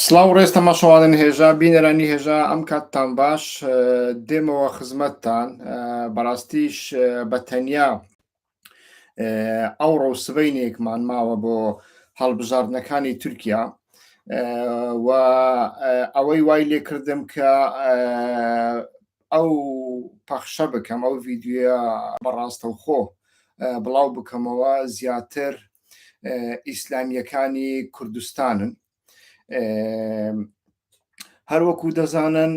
سلااو ڕێز تەماشەوانن هێژا بینەرانی هێژا ئەم کاتتان باش دێمەوە خزمەتتان بەڕاستیش بە تەنیا ئەو ڕۆ سبینێکمان ماوە بۆ هەڵبژاردنەکانی تورکیا و ئەوەی وای لێکردم کە ئەو پەخشە بکەم ئەو ڤیددیوە بەڕاستەوخۆ بڵاو بکەمەوە زیاتر ئیسلامیەکانی کوردستانن هەروەکو دەزانن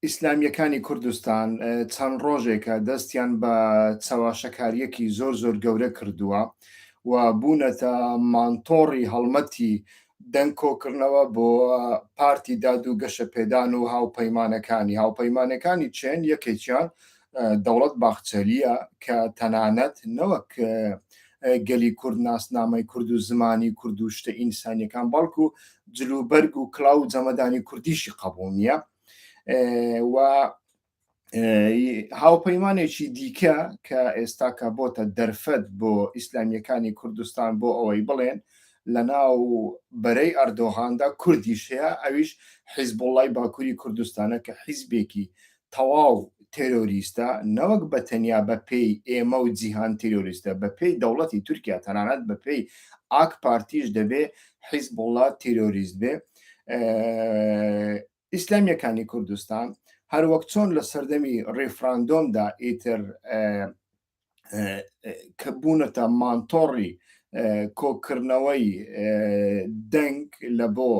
ئیسلامیەکانی کوردستان چەند ڕۆژێکە دەستیان بە چەواشەکاریەکی زۆر زۆر گەورە کردووە و بوونەتە مانتۆڕی هەڵمەتی دەنگ کۆکڕنەوە بۆ پارتی داد و گەشەپێدان و هاوپەیمانەکانی هاوپەیمانەکانی چێن یەکێکیان دەوڵەت باخچەلیە کە تەنانەت نەوەک گەلی کورد ناسنامەی کورد و زمانی کورد و شتە ئینسانیەکان بەڵکو جلوبەرگ و کلااو جەمەدانی کوردیشی قبول نییە و هاوپەیمانێکی دیکە کە ئێستاکە بۆتە دەرفەت بۆ ئیسلامیەکانی کوردستان بۆ ئەوەی بڵێن لە ناو بەرەی ئەردۆغاندا کوردیش هەیە ئەویش حیزبوڵای باکووری کوردستانە کە حیزبێکی تەواو تێرۆریستە نەوەک بە تەنیا بە پێی ئێمە و جیهان تیرۆریستە بە پێی دەوڵەتی تورکیا تەنانەت بە پێی ئاک پارتیش دەبێ حیزبوڵا تیرۆریست بێ ئیسلامیەکانی کوردستان هەروەک چۆن لە سەردەمی ڕیفراندۆمدا ئیتر کە بوونەتە مانتۆڕی کۆکردنەوەی دەنگ لە بۆ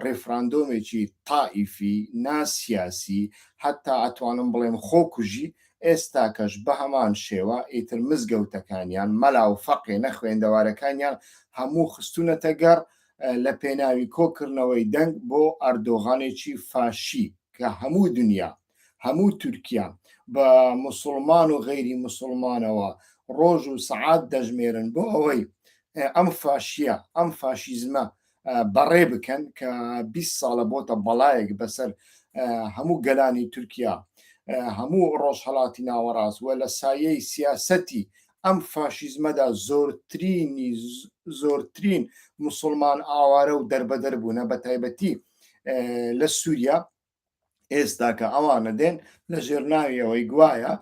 ڕێفراندۆمێکی تائیفی ناسیاسی حتا ئەتوانم بڵێم خۆکوژی ئێستاکەش بە هەمان شێوە ئیتر مزگەوتەکانیان مەلا و فەقێ نەخوێندەوارەکانیان هەموو خستونەتە گەڕ لە پێناوی کۆکردنەوەی دەنگ بۆ ئەردۆغانێکی فاشی کە هەموو دنیا هەموو تورکیا بە مسلمان و غەیری مسلمانەوە ڕۆژ و سعات دەژمێرن بۆ ئەوەی ئەم فاشیە ئەم فاشیزمە بەڕێ بکەن کە 20 ساڵە بۆتە بەڵایەک بەسەر هەموو گەلانی تورکیا هەموو ڕۆژهڵاتی ناوەڕاست وە لە سایەی سیاسەتی ئەم فاشیزمەدا زۆرترینی زۆرترین مسلمان ئاوارە و دەربەدەر بوونە بە تایبەتی لە سووریا ئێستاکە ئەوانە دێن لە ژێرناویەوەی گوایە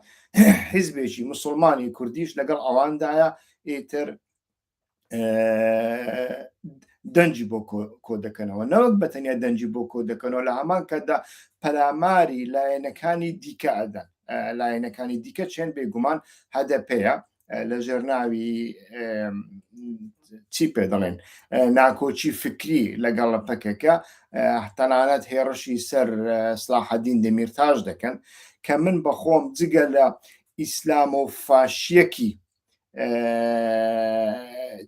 حیزبێکی مسلمانی کوردیش لەگەڵ ئەواندایە ئیتر دەنجی بۆ کۆ دەکەنەوە نەوەک بە تەنیا دەنجی بۆ کۆ دەکەنەوە لە هەمان کەدا پەلاماری لایەنەکانی دیکە ئەدەن لایەنەکانی دیکە چێن بێگومان هەدە پێەیە لە ژێرناوی چی پێ دەڵێن ناکۆچی فکری لەگەڵ پەکەکە تەنانەت هێڕشی سەر سلاحەدین دەمیرتاش دەکەن کە من بەخۆم جگە لە ئیسلام و فاشیەکی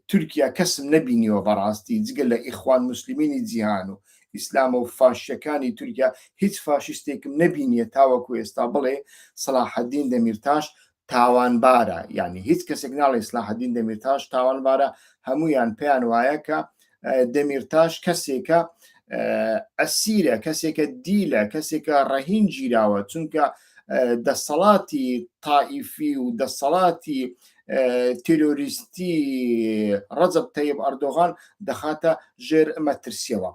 تورکیا کەسم نەبینیوە بەڕاستی جگە لە ئیخوان مسللمینی جیهان و ئیسلام و فاشەکانی تورکیا هیچ فاشستێکم نەبینیە تاوەکو ئێستا بڵێ سلاحدین دەمیرتاش تاوانبارە یعنی هیچ کەسێک ناڵی سلاحدین دەمیرتاش تاوانبارە هەمویان پێیان وایە کە دەمیرتاش کەسێکە ئەسیرە کەسێکە دیلە کەسێکە ڕەهین گیراوە چونکە دەسەڵاتی تائیفی و دەسەڵاتی تیرۆریستی ڕەزب تەیب ئەردۆغان دەخاتە ژێر مەترسیەوە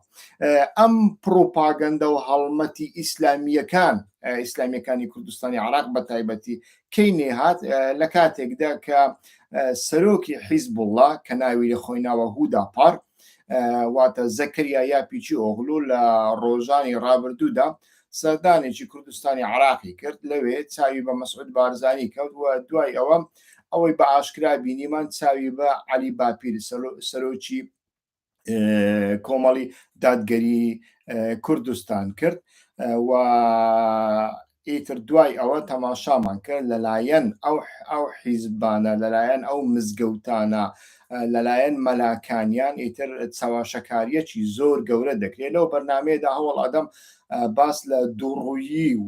ئەم پرۆپاگەندە و هەڵمەتی ئیسلامیەکان ئیسلامیەکانی کوردستانی عراق بە تایبەتی کەی نێهات لە کاتێکدا کە سەرۆکی حیزب وڵا کە ناوی لە خۆی ناوە هودا پار واتە زەکریا یا پیچی ئۆغلو لە ڕۆژانی ڕابردوودا سەردانێکی کوردستانی عراقی کرد لەوێ چاوی بە مەسعود بارزانانی کەوت و دوای ئەوە ئەوەی بە ئاشکرا بینیمان چاوی بە علی باپیر سەرۆکی کۆمەڵی دادگەری کوردستان کرد و ئیتر دوای ئەوە تەماشامان کرد لەلایەن ئەو ئەو حیزبانە لەلایەن ئەو مزگەوتانە لەلایەن مەلاکانیان ئیتر چاواشەکاریەکی زۆر گەورە دەکرێت لەو بەرنمەیەدا هەوڵ ئەدەم باس لە دووڕوویی و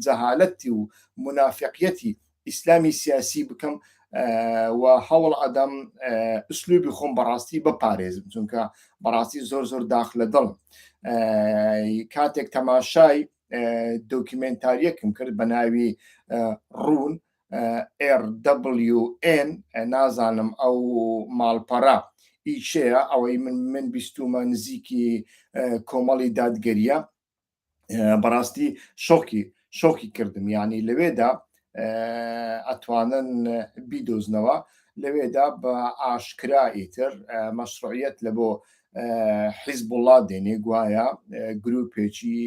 جەهالەتی و منافقیەتی ئیسلامی سیاسی بکەم و هەوڵ ئەدەم ئسلوبی خۆم بەڕاستی بپارێزم چونکە بەڕاستی زۆر زۆر داخ لە دڵ کاتێک تەماشای دۆکیمنتاریەکم کرد بە ناوی ڕوون RWN نازانم ئەو ماڵپەرە ئیچەیە ئەوەی من من بیستومە نزیکی کۆمەڵی دادگەریە بەڕاستی شۆکی شۆکی کردم یعنی لەوێدا ئەتوانن بیدۆزنەوە لەوێدا بە ئاشکرا ئیتر مەشروعیت لە بۆ حیزب وڵات دێنێ گوایە گرروپێکی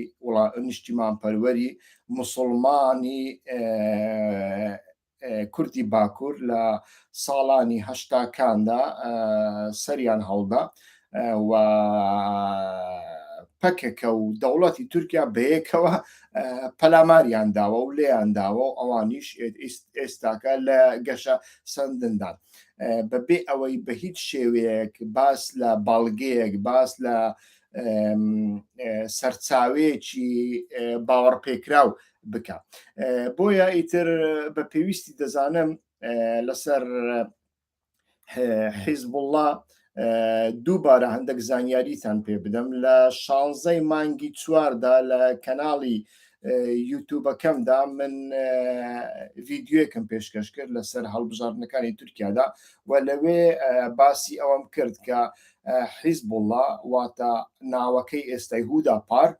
نیشتیمان پەروەری مسلمانی کوردی باکوور لە ساڵانی هەشتاکاندا سەریان هەڵدا و پەکەکە و دەوڵەتی تورکیا بەیەکەوە پەلاماریان داوە و لێیان داوە و ئەوانیش ئێستاکە لە گەشە سندندان بەبێ ئەوەی بە هیچ شێوەیەک باس لە باڵگەیەک باس لە سەرچاوەیەکی باوەڕپێکراو بکە بۆیە ئیتر بە پێویستی دەزانم لەسەر حیزب الله دووبارە هەندێک زانیاریتان پێ بدەم لە شانزەی مانگی چواردا لە کەناڵی یوتوبەکەمدا من ڤیددیوەکەم پێشکەش کرد لەسەر هەڵبژاردنەکانی تورکیادا و لەوێ باسی ئەوەم کرد کە حیزب الله واتە ناوەکەی ئێستای هودا پارک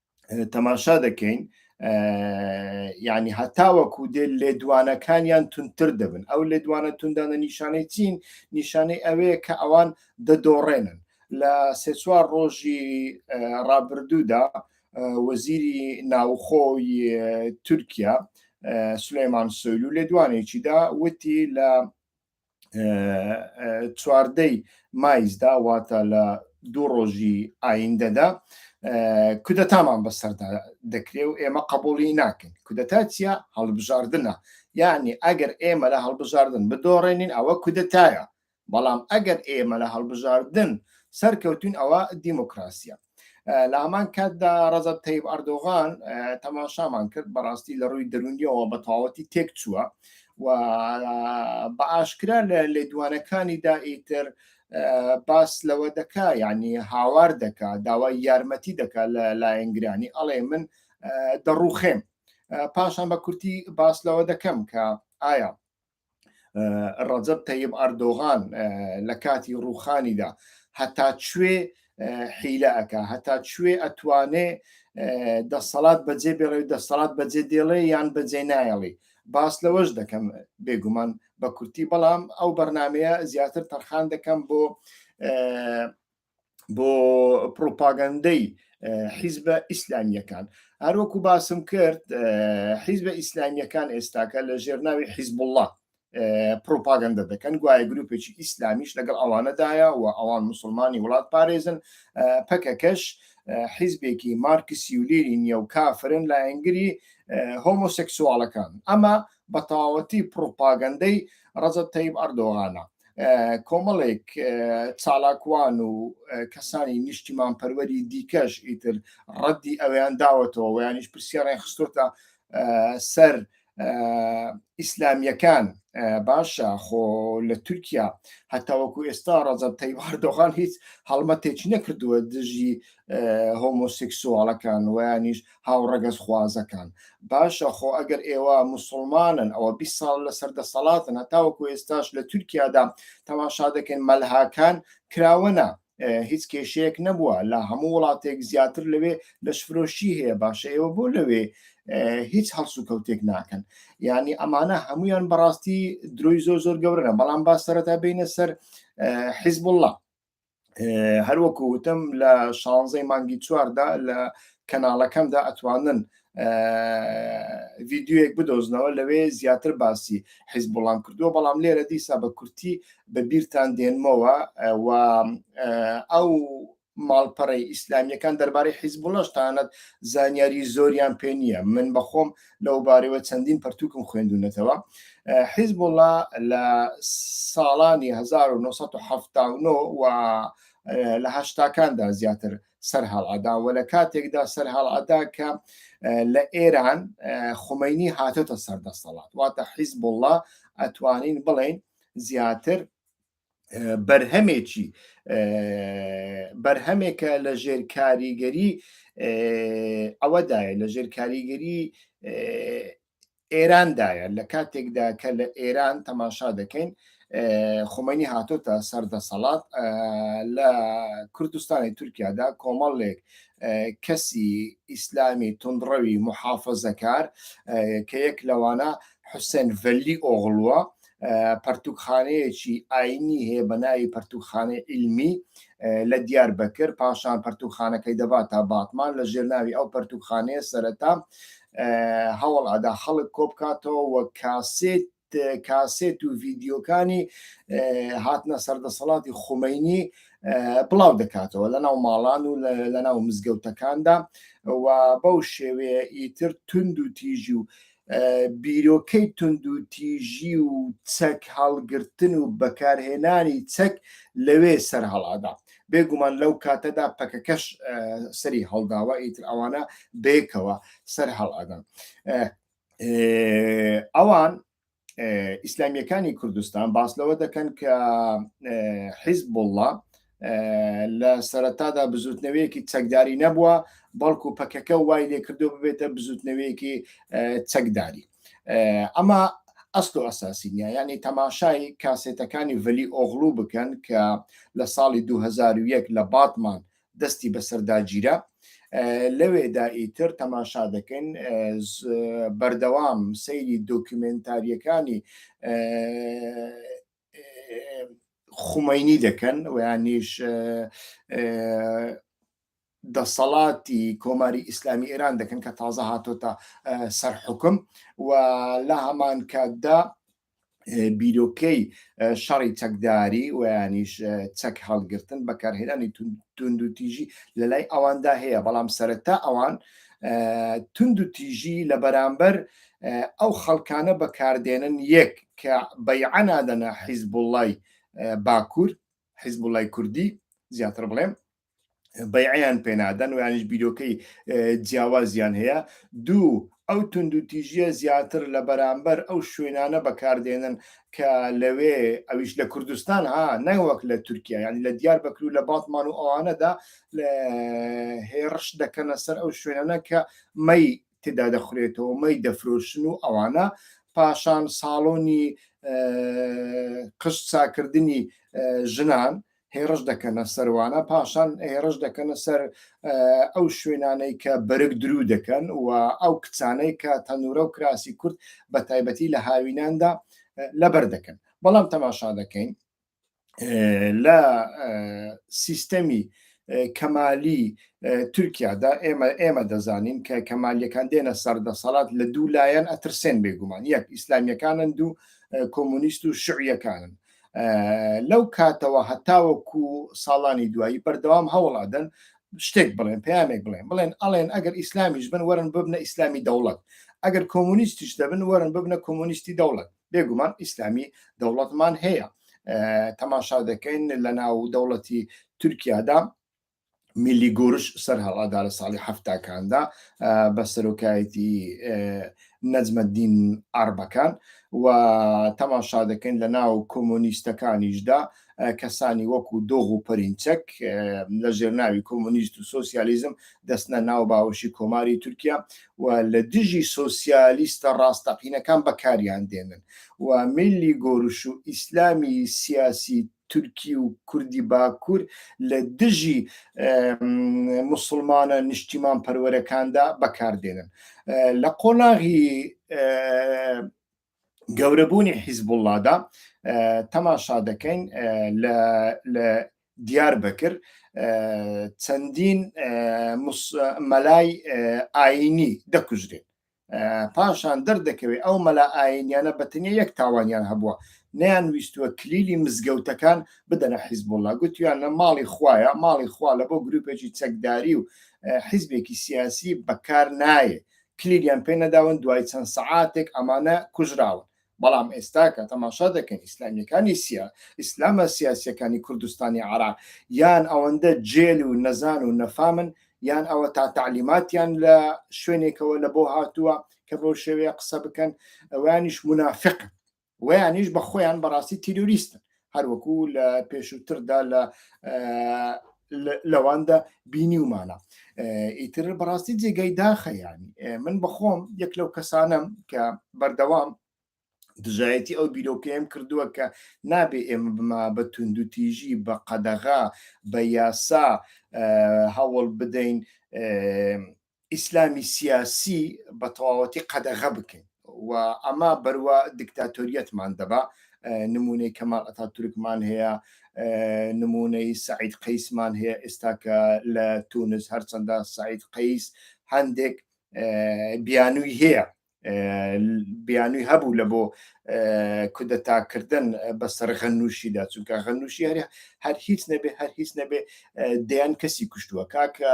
تەماشا دەکەین یعنی هەتاوەکو دێ لێدوانەکانیان تونتر دەبن ئەو لێدوانە توندانە نیشانەی چین نیشانەی ئەوەیە کە ئەوان دەدۆڕێنن لە سێ چوار ڕۆژی ڕابردوودا وەزیری ناوخۆی تورکیا سلێمان سۆیل و لێدوانێکیدا وتی لە چواردەی مایزدا واتە لە دوو ڕۆژی ئایندەدا کودەتامان بەسەردا دەکرێ و ئێمە قبولی ناکەین کودەتا چیە هەڵبژاردنە یعنی ئەگەر ئێمە لە هەڵبژاردن بدۆڕێنین ئەوە کودەتایە بەڵام ئەگەر ئێمە لە هەڵبژاردن سەرکەوتون ئەوە دیموکراسیە لە هەمان کاتدا ڕەزە تەیب ئەردۆغان تەماشامان کرد بەڕاستی لە ڕووی دەرونیەوە بە تەواوەتی تێک چووە و بە ئاشکرا لە لێدوانەکانی دا ئیتر باس لەوە دەکا ینی هاوار دەکا داوای یارمەتی دەکا لە لایەنگرانی ئەڵێ من دەڕوخێم پاشان بە کورتی باس لەوە دەکەم کە ئایا ڕەجەب تەیب ئەردۆغان لە کاتی ڕوخانیدا هەتا کوێ حیلە ئەک هەتا کوێ ئەتوانێ دەسەڵات بەجێ بێڵێ دەسەڵات بەجێ دێڵێ یان بەجێ نایەڵی باس لەوەش دەکەم بێگومان بە کورتی بەڵام ئەو بەرنمەیە زیاتر تەرخان دەکەم بۆ بۆ پرۆپاگەندەی حیزبە ئیسلامیەکان هەروەکو باسم کرد حیزبە ئیسلامیەکان ئێستاکە لە ژێرناوی حیزبله پروپاگەندە دەکەن گوایە گروپێکی ئیسلامیش لەگەڵ ئەوانەدایە و ئەوان مسلمانی وڵات پارێزن پەکەکەش حیزبێکی مارکسی و لێری نیە و کافرن لایەنگری هۆمۆسێکسوالەکان ئەمە بەتەواوەتی پڕوپاگەندەی ڕەجەب تەیب ئەردۆغانە کۆمەڵێک چالاکوان و کەسانی نیشتیمان پەروەری دیکەش ئیتر ڕەدی ئەویان داوەتەوە ویانیش پرسیارڕێن خستۆتە سەر ئیسلامیەکان باشە خۆ لە تورکیا هەتاوەکو ئێستا ڕەزەب تەیواردۆغان هیچ هەڵمەتێکی نەکردووە دژی هۆمۆسیکسواڵەکان ویانیش هاوڕەگەزخوازەکان باشە خۆ ئەگەر ئێوە مسلمانن ئەوە بی ساڵ لەسەر دەسەڵاتن هەتاوەکو ئێستاش لە تورکیادا تەماشا دەکەن مەلهاکان کراوەە هیچ کێشەیەک نەبووە لە هەموو وڵاتێک زیاتر لەوێ لەشفرۆشی هەیە باشە ئێوە بۆ لەوێ هیچ هەڵس و کەوتێک ناکەن ینی ئەمانە هەمویان بەڕاستی درۆی زۆر زۆر گەورەە بەڵام با سەرەتا بینە سەر حیزب الله هەروەکو وتم لە شانزەی مانگی چواردا لە کەناڵەکەمدا ئەتوانن ڤیددیوەک بدۆزنەوە لەوێ زیاتر باسی حیز بڵام کردووە بەڵام لێرە دیسا بە کورتی بە بیرتان دێنمەوە و ئەو ماڵپەڕی ئیسلامیەکان دەربارەی حیزبوڵەشتانت زانیاری زۆریان پێ نییە من بەخۆم لەوبارەیەوە چەندین پەرتوکم خوێندونەتەوە حیزبوڵا لە ساڵانی 1970 و لە هەشتاکاندا زیاتر سەر هەڵعدا و لە کاتێکدا سەر هەڵعدا کە لە ئێران خمەینی هاتۆتە سەردەستەڵات واتە حیزبوڵا ئەتوانین بڵین زیاتر بەرهەمێکی بەرهەمێکە لە ژێر کاریگەری ئەوەدایە لە ژێر کاریگەری ئێراندایە لە کاتێکدا کە لە ئێران تەماشا دەکەین خۆمەنی هاتۆتە سەردەسەڵات لە کوردستانی تورکیادا کۆمەڵێک کەسی ئیسلامی تونڕەوی محافظەکار کە یەک لەوانە حوسێن ڤەلی ئۆغڵووە پەرتوکخانەیەکی ئاینی هەیە بە ناوی پەرتوکخانەی عیلمی لە دیار بەکر پاشان پەرتوکخانەکەی دەبات تا باتمان لە ژێر ناوی ئەو پەرتوکخانەیە سەرەتا هەوڵ ئەدا خەڵک کۆبکاتەوە وە کاسێت کاسێت و ڤیددیوکانی هاتنە سەردەسەڵاتی خومینی بڵاو دەکاتەوە لە ناو ماڵان و لە ناو مزگەوتەکاندا و بەو شێوەیە ئیتر تونند و تیژی و بیرۆکەی توندوتیژی و چەک هەڵگرتن و بەکارهێنانی چەک لەوێ سەر هەڵادا بێگومان لەو کاتەدا پەکەکەش سەری هەڵداوە ئیتر ئەوانە بێکەوە سەر هەڵادان ئەوان ئیسلامیەکانی کوردستان باس لەوە دەکەن کە حیزب بڵە لە سەرەتادا بزوتنەوەیەکی چەکداری نەبووە بەڵکو پەکەکە وای لێکردو ببێتە بزوتنەوەیەکی چەکداری ئەمە ئەست و ئەساسینە ینی تەماشای کاسێتەکانی ڤلی ئۆغلو بکەن کە لە ساڵی 2001 لە باتمان دەستی بەسەرداگیرە لەوێدا ئیتر تەماشا دەکەین بەردەوام سەیری دۆکیومنتاریەکانی خومەینی دەکەن ویانیش دەسەڵاتی کۆماری ئیسلامی ئێران دەکەن کە تازە هاتۆتە سەر حکم و لە هەمان کاتدا بیرۆکەی شەڕی چەکداری ویانیش چەک هەڵگرتن بەکارهێنانی تونند و تیژی لە لای ئەواندا هەیە بەڵام سەرەتا ئەوان تونند و تیژی لە بەرامبەر ئەو خەڵکانە بەکاردێنن یەک کە بەیعە نادەنە حیزبوڵای باکوور حیزبوڵای کوردی زیاتر بڵێم بەیعیان پێنادەن و یانیش بیرۆکەی جیاوازیان هەیە دوو ئەو تونند و تیژیە زیاتر لە بەرامبەر ئەو شوێنانە بەکاردێنن کە لەوێ ئەویش لە کوردستان ها نەوەک لە تورکیا ینی لە دیار بەکرو لە باتمان و ئەوانەدا هێڕش دەکەنە سەر ئەو شوێنانە کە مەی تێدا دەخورێتەوە مەی دەفرۆشن و ئەوانە پاشان ساڵۆنی قشت ساکردنی ژنان هێڕش دەکەنە سەروانە پاشان هێڕش دەکەنە سەر ئەو شوێنانەی کە بەرگ درو دەکەن و ئەو کچانەی کە تەنورە و کراسی کورد بە تایبەتی لە هاویناندا لەبەر دەکەن بەڵام تەماشا دەکەین لە سیستەمی کەمالی تورکیادا ئێمە ئێمە دەزانین کە کەمالیەکان دێنە سەردەسەڵات لە دوو لایەن ئەترسێن بێگومان یەک ئیسلامیەکانن دوو کۆمونیست و شعیەکانن لەو کاتەوە هەتاوەکو ساڵانی دوایی بەردەوام هەوڵادەن شتێک بڵێن پامێک بڵێن بڵێن ئەڵێن ئەگەر ئیسلامیش بن وەرن ببنە ئیسلامی دەوڵەت ئەگەر کۆمونیستیش دەبن وەرن ببنە کۆمونیستی دەوڵەت بێگومان ئیسلامی دەوڵەتمان هەیە تەماشا دەکەین لە ناو دەوڵەتی تورکیادا میلی گۆرش سەر هەڵادا لە ساڵی هەفتاکاندا بە سەرۆکایەتی نەجمەدین ئاربەکان و تەماشا دەکەین لە ناو کۆمۆنیستەکانیشدا کەسانی وەکو دۆغ و پەرینچەک لە ژێرناوی کۆمۆنیست و سۆسیالیزم دەستنە ناو باوەشی کۆماری تورکیا و لە دژی سۆسیالیستە ڕاستەقینەکان بەکاریان دێنن و میلی گۆرش و ئیسلامی سیاسی تورکی و کوردی باکوور لە دژی مسلمانە نیشتیمان پەروەرەکاندا بەکاردێنن لە قۆناغی گەورەبوونی حیزبوڵڵادا تەماشا دەکەین لە دیار بەکر چەندین مەلای ئاینی دەکوژرێت پاشان دەردەکەوێت ئەو مەلا ئاینیانە بەتنیا یەک تاوانیان هەبووە نیان ویستوە کلیلی مزگەوتەکان بدەنە حیزبوڵە گوتیان لە ماڵی خویە ماڵی خوا لە بۆ گروپێکی چەکداری و حیزبێکی سیاسی بەکار نایە کلیلیان پێ نەداون دوای چەند سەعاتێک ئەمانە کوژراون بەڵام ئێستا کە تەماشا دەکەین ئیسلامیەکانی سیا ئیسلامە سیاسیەکانی کوردستانی عراق یان ئەوەندە جێل و نەزان و نەفامن یان ئەوە تا تعلیماتیان لە شوێنێکەوە لە بۆ هاتووە کە بۆ شێوەیە قسە بکەن ئەوانیش منافق وەیانیش بە خۆیان بەڕاستی تیرۆریستن هەروەکو لە پێشووتردا لە لەواندا بینی ومانە ئیتر بەڕاستی جێگەی داخەیانی من بەخۆم یەک لەو کەسانم کە بەردەوام دژایەتی ئەو بیرۆکەیەم کردووە کە نابێ ئێمە بما بە توندوتیژی بە قەدەغا بە یاسا هەوڵ بدەین ئیسلامی سیاسی بە تەواوەتی قەدەغە بکەین و ئەمە بەروە دیکتاتۆریەتمان دەبا نمونەی کەمال ئەتا تورکمان هەیە نمونەی سعید قەیسمان هەیە ئێستا کە لە تونس هەرچەندە سعید قەیس هەندێک بیانووی هەیە بیانوی هەبوو لە بۆ کودەتاکردن بەسەر غەنووشیدا چونکە غەنووشی هەر هەر هیچ نەبێ هەر هیچ نەبێ دەیان کەسی کوشتووە کاکە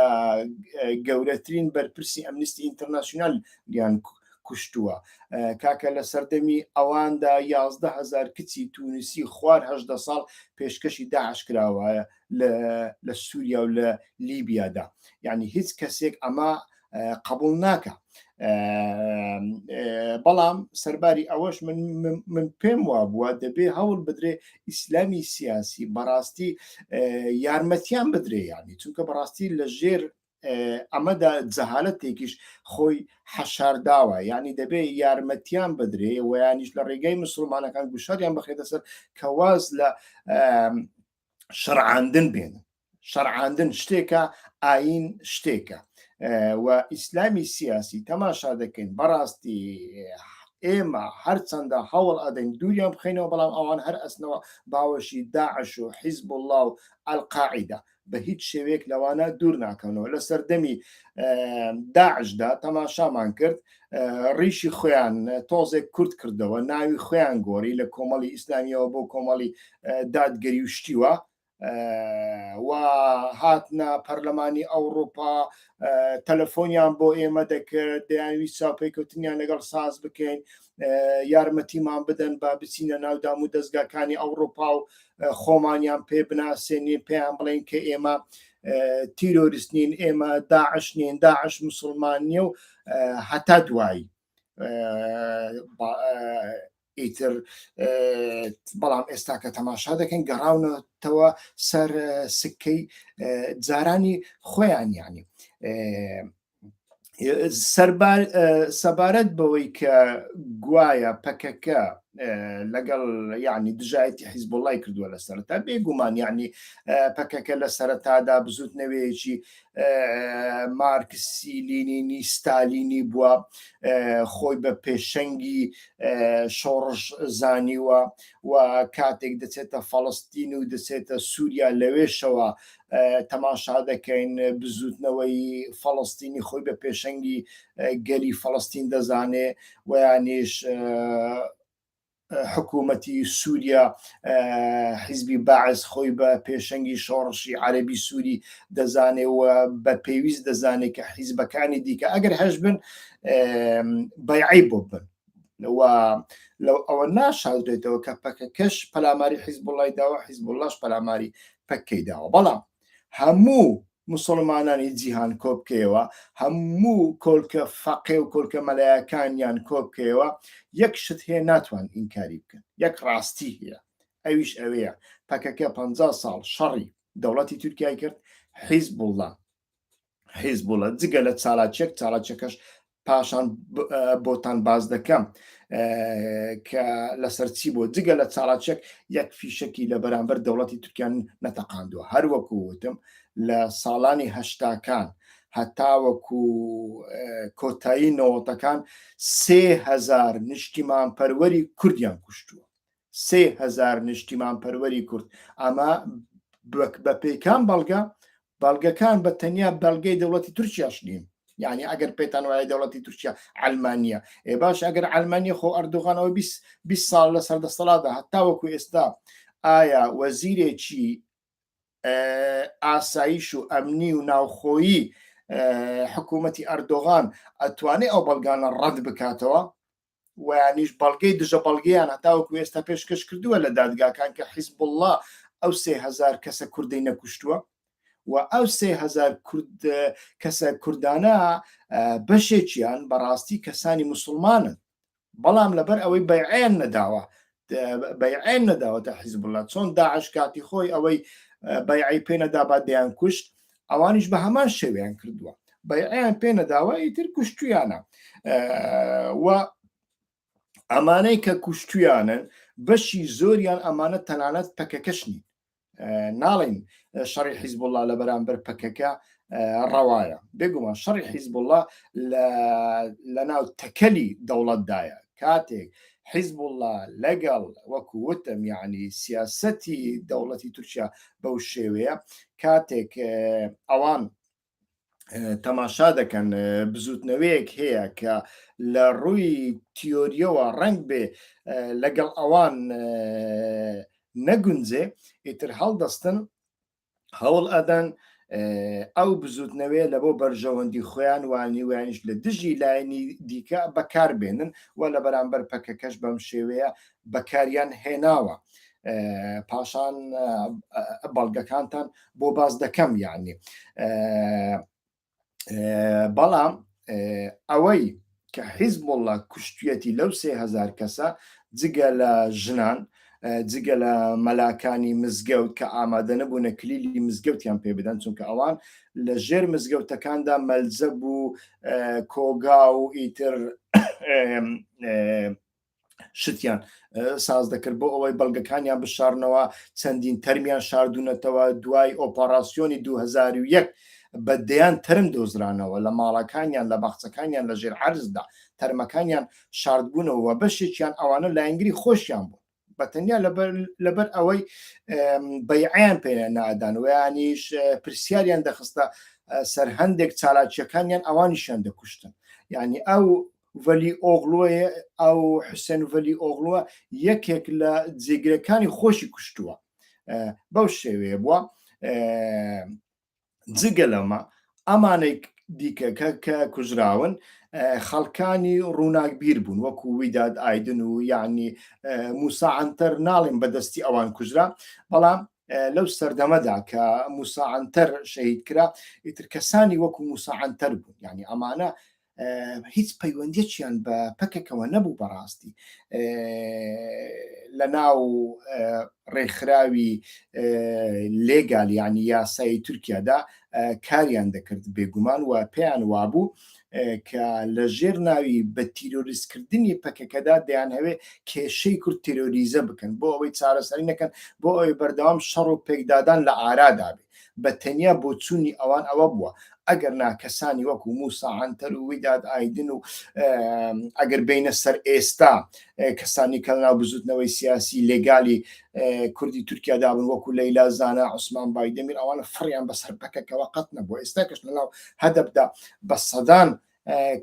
گەورەترین بەرپرسی ئەمنیستی ئینتەرناسیۆنال یان کوشتووە کاکە لە سەردەمی ئەواندا یازدە هزار کچی تونسی خوار هەدە ساڵ پێشکەشی داعش کراوە لە سووریا و لە لیبیادا یعنی هیچ کەسێک ئەمە قبول ناکە بەڵام سەرباری ئەوەش من من پێم وا بووە دەبێ هەوڵ بدرێ ئیسلامی سیاسی بەڕاستی یارمەتیان بدرێ یانی چونکە بەڕاستی لە ژێر ئەمەدا جەهالەتێکیش خۆی حەشارداوە ینی دەبێ یارمەتیان بدرێ ویانیش لە ڕێگەی مسلمانەکان گوشاریان بخێتە سەر کەواز لە شەرعاندن بێنن شەرعاندن شتێکە ئاین شتێکە و ئیسلامی سیاسی تەماشا دەکەین بەڕاستی ئێمە هەرچەندە هەوڵ ئەدەین دووریان بخینەوە بەڵام ئەوان هەر ئەسنەوە باوەشی داعش و حیزب الله و ئەلقاعدا بە هیچ شێوێک لەوانە دوور ناکەنەوە لە سەردەمی داعشدا تەماشامان کرد ڕیشی خۆیان تۆزێک کورت کردەوە ناوی خۆیان گۆری لە کۆمەڵی ئیسلامیەوە بۆ کۆمەڵی دادگەری و شتیوە و هاتنە پەرلەمانی ئەوروپا تەلەفۆنیان بۆ ئێمە دەکرد دەیانوی چاپێکوتنیان لەگەڵ ساز بکەین یارمەتیمان بدەن با بچینە ناودام و دەستگاکانی ئەوروپا و خۆمانیان پێ بناسێنی پێیان بڵین کە ئێمە تیرۆریست نین ئێمە داعش نین داعش مسلمان نیە و هەتا دوایی ئیتر بەڵام ئێستا کە تەماشا دەکەین گەڕاونەتەوە سەر سکەی جارانی خۆیان ینی سەبارەت بەوەی کە گوایە پەکەکە لەگەڵ یعنی دژایەتی حیزب وڵی کردووە لە سەرتا بێگومان یعنی پەکەکە لە سەرتادا بزوت نەوەیەکی مارکسی لینینی ستالینی بووە خۆی بە پێشەنگی شۆڕش زانیوە و کاتێک دەچێتە فەڵستین و دەچێتە سووریا لەوێشەوە تەماشا دەکەین بزوتنەوەی فەڵستینی خۆی بە پێشەنگی گەلی فەڵستین دەزانێ ویانیش حکوومەتی سووریا حیزبی بەعس خۆی بە پێشەنگی شۆڕشی عەربی سووری دەزانێ و بە پێویست دەزانێت کە حیزبەکانی دیکە ئەگەر هەش بن بەعی بۆ بن و لەو ئەوە ناشاودرێتەوە کە پەکەکەش پەلاماری حیزب وڵی داوە حیزب وڵاش پەلاماری پەکەی داوە بەڵام هەموو موسوڵمانانی جیهان کۆبکەیەوە هەموو کۆلکە فەقێ و کۆلکە مەلایەکانیان کۆبکەیەوە یەک شت هەیە ناتوان ئینکاری بکەن یەک ڕاستی هەیە ئەویش ئەوەیە پەکەکە پ ساڵ شەڕی دەوڵەتی تورکای کرد حیزبوڵە حیزبوڵە جگە لە چالاکیەک چالاکیەکەش پاشان بۆتان باز دەکەم کە لەسەر چی بۆ جگە لە چاڵاچێک یەک فیشکی لە بەرامبەر دەوڵەتی تورکیان نەتەقاندوە هەروەکو وتم لە ساڵانی هەشتاکان هەتاوەکو کۆتایی نەوەتەکان سهزار نیشتیمان پەروەری کوردیان کوشتووە سێ هەزار نیشتیمانپەروەری کورد ئەمە بە پێی کام بەڵگە بەڵگەکان بە تەنیا بەڵگەی دەوڵەتی تورکیاش نین یعنی ئەگەر پێتان وایە دەوڵەتی تورکیا ئەلمانیا ئێ باش ئەگەر ئەلمانیا خۆ ئەردوغانەوە 20 ساڵ لە سەردەستەڵادا هەتا وەکو ئێستا ئایا وەزیرێکی ئاسایش و ئەمنی و ناوخۆیی حکوومەتی ئەردۆغان ئەتوانێت ئەو بەڵگانە ڕەت بکاتەوە ویانیش بەڵگەی دژە بەڵگەیان هەتاوەکو ئێستا پێشکەش کردووە لە دادگاکان کە حیزب اللە ئەو سێ هزار کەسە کوردی نەکوشتووە و ئەو سێ هزار کورد کەسە کوردانە بەشێکیان بەڕاستی کەسانی مسلمانن بەڵام لەبەر ئەوەی بەیعیان نەداوە بەیعێن نەداوەتە حیزبوڵا چۆن داعش کاتی خۆی ئەوەی بەیعی پێ نەدا با دەیان کوشت ئەوانیش بە هەمان شێویان کردووە بەیعیان پێ نەداوە ئیتر کوشتویانە و ئەمانەی کە کوشتویانن بەشی زۆریان ئەمانە تەنانەت پەکەکەشنی ناڵین شەڕی حیزب الله لە بەرامبەر پەکەکە ڕەوایە بێگومان شەڕی حیزب الله لە ناو تەکەلی دەوڵەتدایە کاتێک حیزب الله لەگەڵ وەکو وتم یعنی سیاستی دەوڵەتی تورکیا بەو شێوەیە کاتێک ئەوان تەماشا دەکەن بزوتنەوەیەک هەیە کە لە ڕووی تیۆریەوە ڕنگ بێ لەگەڵ ئەوان نەگونجێ ئیتر هەڵدەستن هەوڵ ئەدەن ئەو بزوتنەوێ لە بۆ بەرژەوەندی خۆیان وانیوانیش لە دژی لایەنی دیکە بەکار بێنن و لە بەرامبەر پەکەکەش بەم شێوەیە بەکاریان هێناوە. پاشان بەڵگەکانتان بۆ باس دەکەم یعنی بەڵام ئەوەی کە حیزب وڵە کوشتێتی لەو سهزار کەسە جگە لە ژنان جگە لە مەلاکانی مزگەوت کە ئامادە نەبوونە کلیلی مزگەوتیان پێ بدەن چونکە ئەوان لە ژێر مزگەوتەکاندا مەلزە بوو کۆگا و ئیتر شتیان ساز دەکرد بۆ ئەوەی بەڵگەکانیان بشارنەوە چەندین تەرمیان شاردونەتەوە دوای ئۆپەڕاسیۆنی 2001 بە دەیان تەرم دۆزرانەوە لە ماڵەکانیان لە باخچەکانیان لە ژێر عرزدا تەرمەکانیان شاردبوونەوە بەشێکیان ئەوانە لایەنگری خۆشیان بوو بەتەنیا لەبەر ئەوەی بەیعیان پێ نادانوەیانیش پرسیاریان دەخستە سەر هەندێک چالاکیەکانیان ئەوانیشیان دەکوشتن یعنی ئەو ڤەلی ئۆغلۆیە ئەو حوسێن ڤەلی ئۆغلوە یەکێک لە جێگرەکانی خۆشی کوشتووە بەو شێوەیە بووە جگە لەمە ئەمانێک دیکەکە کە کوژراون خەڵکانی ڕووناکبیر بوون وەکو ویداد ئایدن و یعنی موساعاتەر ناڵێن بەدەستی ئەوان کوژرا بەڵام لەو سەردەمەدا کە موساعاتەر شەهید کرا ئیتر کەسانی وەکو موساعاتەر بوون یعنی ئەمانە هیچ پەیوەندیەکیان بە پەکەکەوە نەبوو بەڕاستی لە ناو ڕێکخراوی لێگال ینی یاسایی تورکیادا کاریان دەکرد بێگومان و پێیان وابوو کە لە ژێر ناوی بە تیرۆریستکردنی پەکەکەدا دەیان هەوێ کێشەی کورد تیرۆریزە بکەن بۆ ئەوەی چارەسەری نەکەن بۆ ئەوەی بەردەوام شەڕ و پێکدادان لە ئارادا بێ بە تەنیا بۆچوونی ئەوان ئەوە بووە ئەگەر نا کەسانی وەکو موسا عەنتەر و ویداد ئایدن و ئەگەر بینە سەر ئێستا کەسانی کە ناو بزوتنەوەی سیاسی لێگالی کوردی تورکیا دابن وەکو لەیلا زانە عوسمان بایدەمیر ئەوانە فڕیان بەسەر پەکەکەەوە قەت نەبوو ئێستا کەش لە ناو هەدەبدا بە سەدان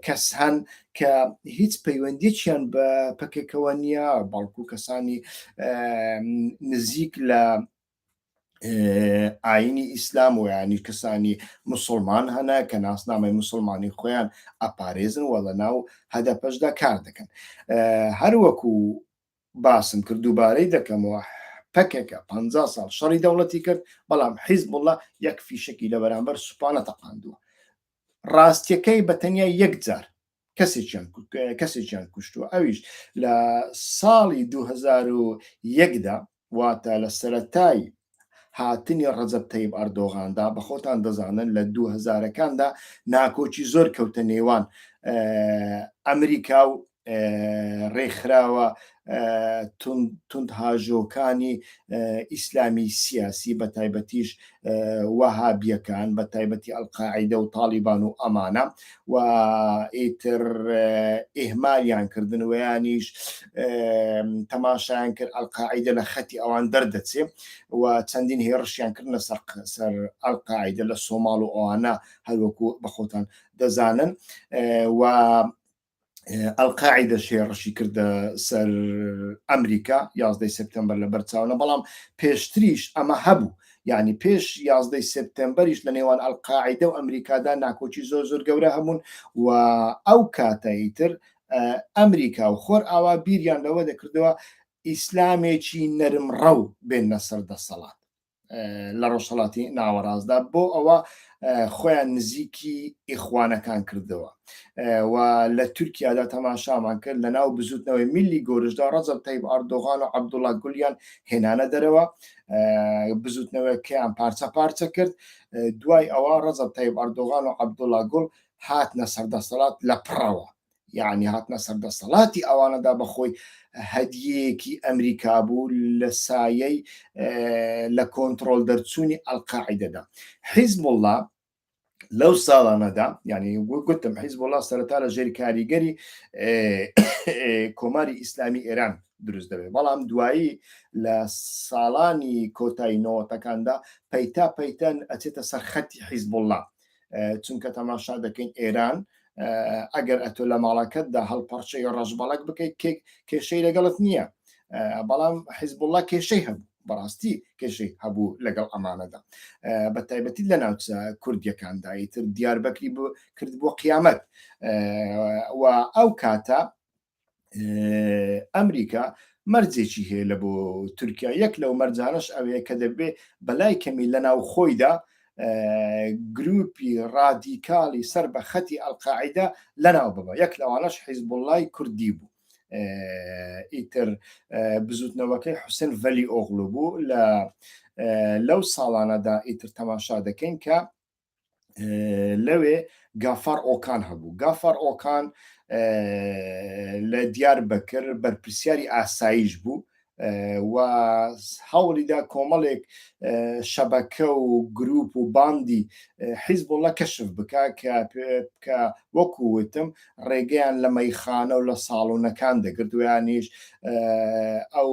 کەس هەن کە هیچ پەیوەندیکیان بە پەکەکەوە نییە بەڵکو کەسانی نزیک لە ئاینی ئیسلام و ینی کەسانی مسلمان هەنا کە ناسنامەی مسلمانی خۆیان ئەپارێزن وە لە ناو هەدەپەشدا کار دەکەن هەروەکو باسم کرد دووبارەی دەکەمەوە پەکەکە پ ساڵ شەڕی دەوڵەتی کرد بەڵام حیز بڵە یەک فیشکی لە بەرامبەر سوپانە تەقاندووە ڕاستیەکەی بە تەنیا یەک جار کەسێکیان کوشتووە ئەویش لە ساڵی 2001دا واتە لە سەتای هاتنی ڕەجەب تەیب ئەردۆغاندا بە خۆتان دەزانن لە 2000ەکاندا ناکۆکی زۆر کەوتە نێوان ئەمریکا و ڕێکخراوە توندهاژۆکانی ئیسلامی سیاسی بە تایبەتیش وەهابیەکان بە تایبەتی ئەلقاعیدە و تاڵیبان و ئەمانە و ئیتر ئیهمالیان کردن ویانیش تەماشایان کرد ئەلقاعیدە لە خەتی ئەوان دەردەچێ و چەندین هێڕشیان کردنە سەر سەر ئەلقاعیدە لە سۆماڵ و ئەوانە هەروەکو بەخۆتان دەزانن و ئەلقاعدە شێڕشی کردە سەر ئەمریکا یازدەی سپتمبەر لە بەرچاونە بەڵام پێشتریش ئەمە هەبوو یعنی پێش یازدەی سپتمبەریش لە نێوان ئەلقاعدە و ئەمریکادا ناکۆکی زۆر زۆر گەورە هەبوون و ئەو کاتەی تر ئەمریکا و خۆر ئاوا بیریان لەوە دەکردەوە ئیسلامێکی نەرم ڕەو بێنە سەر دەسەڵات لە ڕۆژهڵاتی ناوەڕاستدا بۆ ئەوە خۆیان نزیکی ئیخوانەکان کردەوە و لە تورکیادا تەماشامان کرد لە ناو بزوتنەوەی میلی گۆرشدا ڕەزب تەیب ئاردۆغان و عبدوڵا گولیان هێنانە دەرەوە بزوتنەوەکەیان پارچە پارچە کرد دوای ئەوە ڕەزب تەیب ئاردۆغان و عبدوڵا گوڵ هاتنە سەردەسەڵات لە پڕەوە یعنی هاتنە سەر دەسەڵاتی ئەوانەدا بەخۆی هەدیەیەکی ئەمریکا بوو لە سایەی لە کۆنتترۆل دەرچوونی ئەلقاعدەدا حیزب الله لەو ساڵانەدا ینی گوتم حیزب الله سەرتا لە ژێری کاریگەری کۆماری ئیسلامی ئێران دروست دەبێت بەڵام دوایی لە ساڵانی کۆتایی نەوەتەکاندا پەیتا پەیتەن ئەچێتە سەر خەتی حیزب الله چونکە تەماشا دەکەین ئێران ئەگەر ئەتۆ لە ماڵەکەتدا هەڵپەڕچەی ڕەشبەڵک بکەیت کێک کێشەی لەگەڵت نییە بەڵام حیزبوڵە کێشەی هەبوو بەڕاستی کێشەی هەبوو لەگەڵ ئەمانەدا بە تایبەتی لە ناوچە کوردیەکانداییتر دیاربەکری بۆ کرد بۆ قیامەت و ئەو کاتە ئەمریکا مەرجێکی هەیە لە بۆ تورکیا یەک لەو مەرجانەش ئەوەیە کە دەبێ بەلای کەمی لە ناو خۆیدا گروپی ڕادیکاڵی سەر بە خەتی ئەلقاعدا لەناو ببە یەک لەوانەش حیزبوڵای کوردی بوو ئیتر بزوتنەوەکەی حوسن ڤەلی ئۆغلو بوو لە لەو ساڵانەدا ئیتر تەماشا دەکەین کە لەوێ گافار ئۆکان هەبوو گافار ئۆکان لە دیار بەکر بەرپرسیاری ئاسایش بوو و هەوڵیدا کۆمەڵێک شەبەکە و گروپ و باندی حیزبوڵە کەشف بک کە وەکووتم ڕێگەیان لە مەیخانە و لە ساڵونەکان دەگرت ویانیش ئەو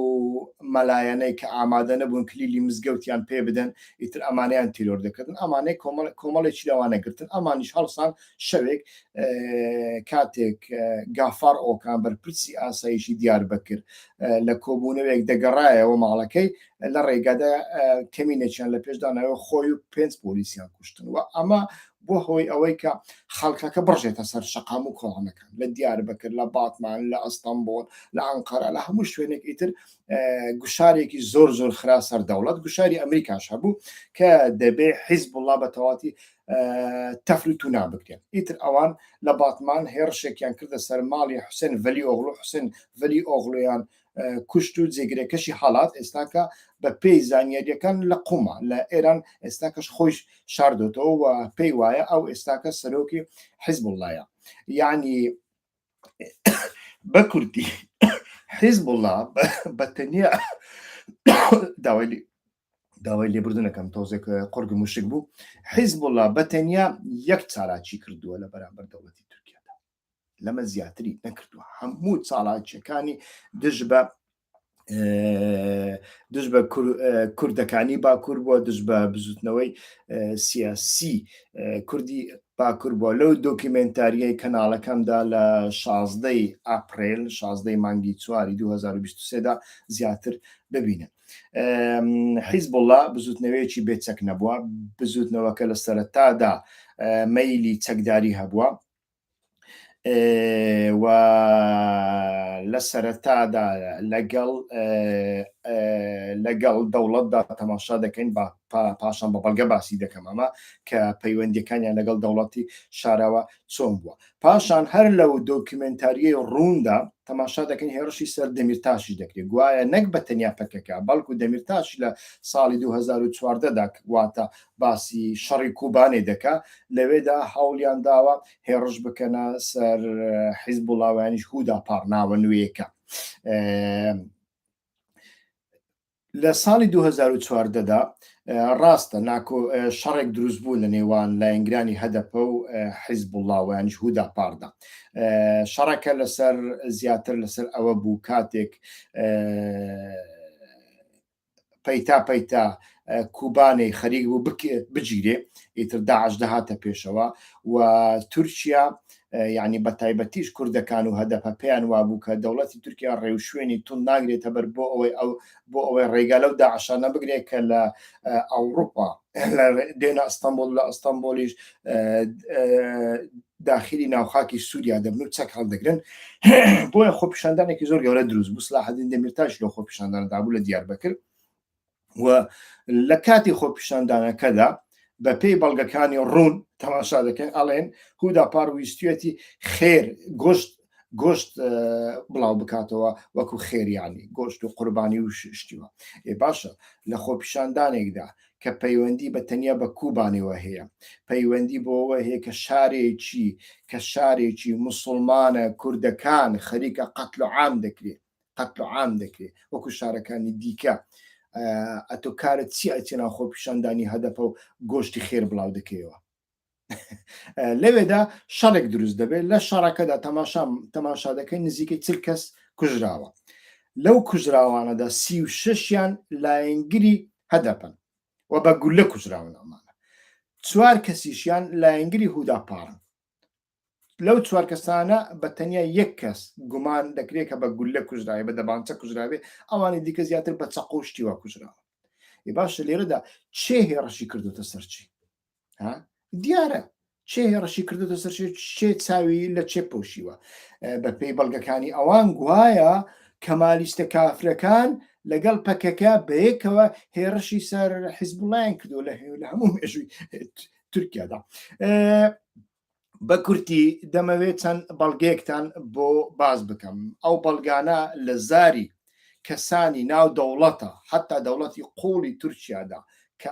مەلایەنەی کە ئامادە نەبوون کلیلی مزگەوتیان پێ بدەن ئیتر ئەمانیان تیرۆر دەکردن ئەمانەی کۆمەڵێکی لەوانە گرتن ئەمانیش هەڵسان شەوێک کاتێک گافار ئۆکان بەرپرسی ئاسایشی دیار بەکرد لە کۆبوونەوەیەک دەگەڕایەوە ماڵەکەی لە ڕێگەدا کەمینەچیان لە پێشدانەوە خۆی و پێنج پۆلیسیان کوشتن و ئەمە بۆ هۆی ئەوەی کە خەڵکەکە بڕژێتە سەر شەقام و کۆڵانەکان لە دیار بەکر لە باتمان لە ئەستەمبۆل لە ئەنقەرە لە هەموو شوێنێک ئیتر گوشارێکی زۆر زۆر خرا سەر دەوڵەت گوشاری ئەمریکاش هەبوو کە دەبێ حیزب وڵا بە تەواتی تەفرت و نابکرێن ئیتر ئەوان لە باتمان هێڕشێکیان کردە سەر ماڵی حوسێن ڤلی ئۆغڵو حوسێن ڤلی ئۆغڵویان کوشت و جێگرەکەشی حالات ئێستاکە بە پێی زانیاریەکان لە قومە لە ئێران ئێستاکەش خۆش شاردۆتەوە و پێی وایە ئەو ئێستاکە سەرۆکی حیزب وڵایە یعنی بە کوردی حیزب وڵا بە تەنیا داوای داوای لێبردنەکەم تۆزێک قڕگم وشک بوو حیزب وڵا بە تەنیا یەک چالاکی کردووە لە بەرامبەر دەوڵەتی لەمە زیاتری نەکردووە هەموو چاڵاکیەکانی دژ بە دژ بە کوردەکانی باکوور بووە دژ بە بزوتنەوەی سیاسی کوردی باکوور بووە لەو دۆکیمنتاریای کەناڵەکەمدا لە شازدەی ئاپریل شازدەی مانگی چواری 2023دا زیاتر ببینن حیزب الله بزوتنەوەیەکی بێچەک نەبووە بزوتنەوەکە لە سەرتادا مەیلی چەکداری هەبووە و لە سەرەتادا لەگەڵ لەگەڵ دەوڵەتدا تەماشا دەکەین با پاشان بە بەڵگە باسی دەکەم ئەمە کە پەیوەندەکانیان لەگەڵ دەوڵەتی شاراوە چۆن بووە پاشان هەر لەو دۆکیومنتاریە ڕووندا تەماشا دەکەین هێرشی سەر دەمیرتاشی دەکرێت گوایە نەک بە تەنیا پەکەکە بەڵکو دەمیرتاش لە ساڵی 2014دا واتە باسی شەڕی کوبانێ دەکا لەوێدا هەوڵیان داوە هێڕش بکەنە سەر حیزب وڵاوانیش هودا پاڕناوە نوێیەکە لە ساڵی 2014دا ڕاستە ناکۆ شەڕێک دروست بوو لە نێوان لایەنگرانی هەدەپە و حیزب وڵاوانیش هودا پاردا شەڕەکە لەسەر زیاتر لەسەر ئەوە بوو کاتێک پەیتا پەیتا کوبانێ خەریک بوو بگیرێ ئیتر داعش دەهاتە پێشەوە و تورکیا یعنی بە تایبەتیش کوردەکان و هەدەپە پێیان وابوو کە دەوڵەتی تورکیا ڕێوشوێنی تون ناگرێتە بەر بۆ ئەوەی ئەو بۆ ئەوەی ڕێگا لەو داعشانە بگرێت کە لە ئەوروپا دێنە ئەستەمبۆڵ لە ئەستەمبۆلیش داخلی ناوخاکی سووریا دەبن و چەک هەڵدەگرن بۆیە خۆپیشاندانێکی زۆر گەورە دروست بوو سلاحدین دەمیرتاش لە خۆپیشانداندا بوو لە دیار بەکرد و لە کاتی خۆپیشاندانەکەدا بە پێی بەڵگەکانی ڕوون تەماشا دەکەن ئەڵێن هودا پاڕویستێتی خێر گۆشت گۆشت بڵاو بکاتەوە وەکو خێریانی گۆشت و قوربانی و شتیوە ئێ باشە لە خۆپیشاندانێکدا کە پەیوەندی بە تەنیا بە کوبانەوە هەیە پەیوەندی بۆەوە هەیە کە شارێکی کە شارێکی مسلمانە کوردەکان خەریکە قەتل و عام دەکرێت قەتل و عام دەکرێت وەکو شارەکانی دیکە ئەتۆ کارت چی ئەچێنا خۆپیشاندانی هەدەپە و گۆشتی خێر بڵاو دەکەیەوە لەوێدا شەڕێک دروست دەبێت لە شەڕەکەدا تەماشا تەماشا دەکەین نزیکەی چل کەس کوژراوە لەو کوژراوانەدا سی و ششیان لایەنگری هەدەپن و بە گولە کوژراون ئەمانە چوار کەسیشیان لایەنگری هودا پاڕن لەو چوار کەسانە بە تەنیا یەک کەس گومان دەکرێت کە بە گولە کوژراوی بە دەبانچە کوژراوێ ئەوانی دیکە زیاتر بە چەقۆ شتی وا کوژراوە ی باشە لێرەدا چێ هێڕەشی کردوتە سەرچی ها دیارە چێ هێڕەشی کردوتە سەر چێ چاوی لە چێ پۆشیوە بە پێی بەڵگەکانی ئەوان گوایە کەمالیستە کافرەکان لەگەڵ پەکەکە بەیەکەوە هێڕشی سەر حیزبڵیان کردو لە هەموو مێژووی تورکیادا بە کورتی دەمەوێت چەند بەڵگەیەکتان بۆ باز بکەم ئەو بەڵگانە لە زاری کەسانی ناو دەوڵەتە حتا دەوڵەتی قوڵی تورکیادا کە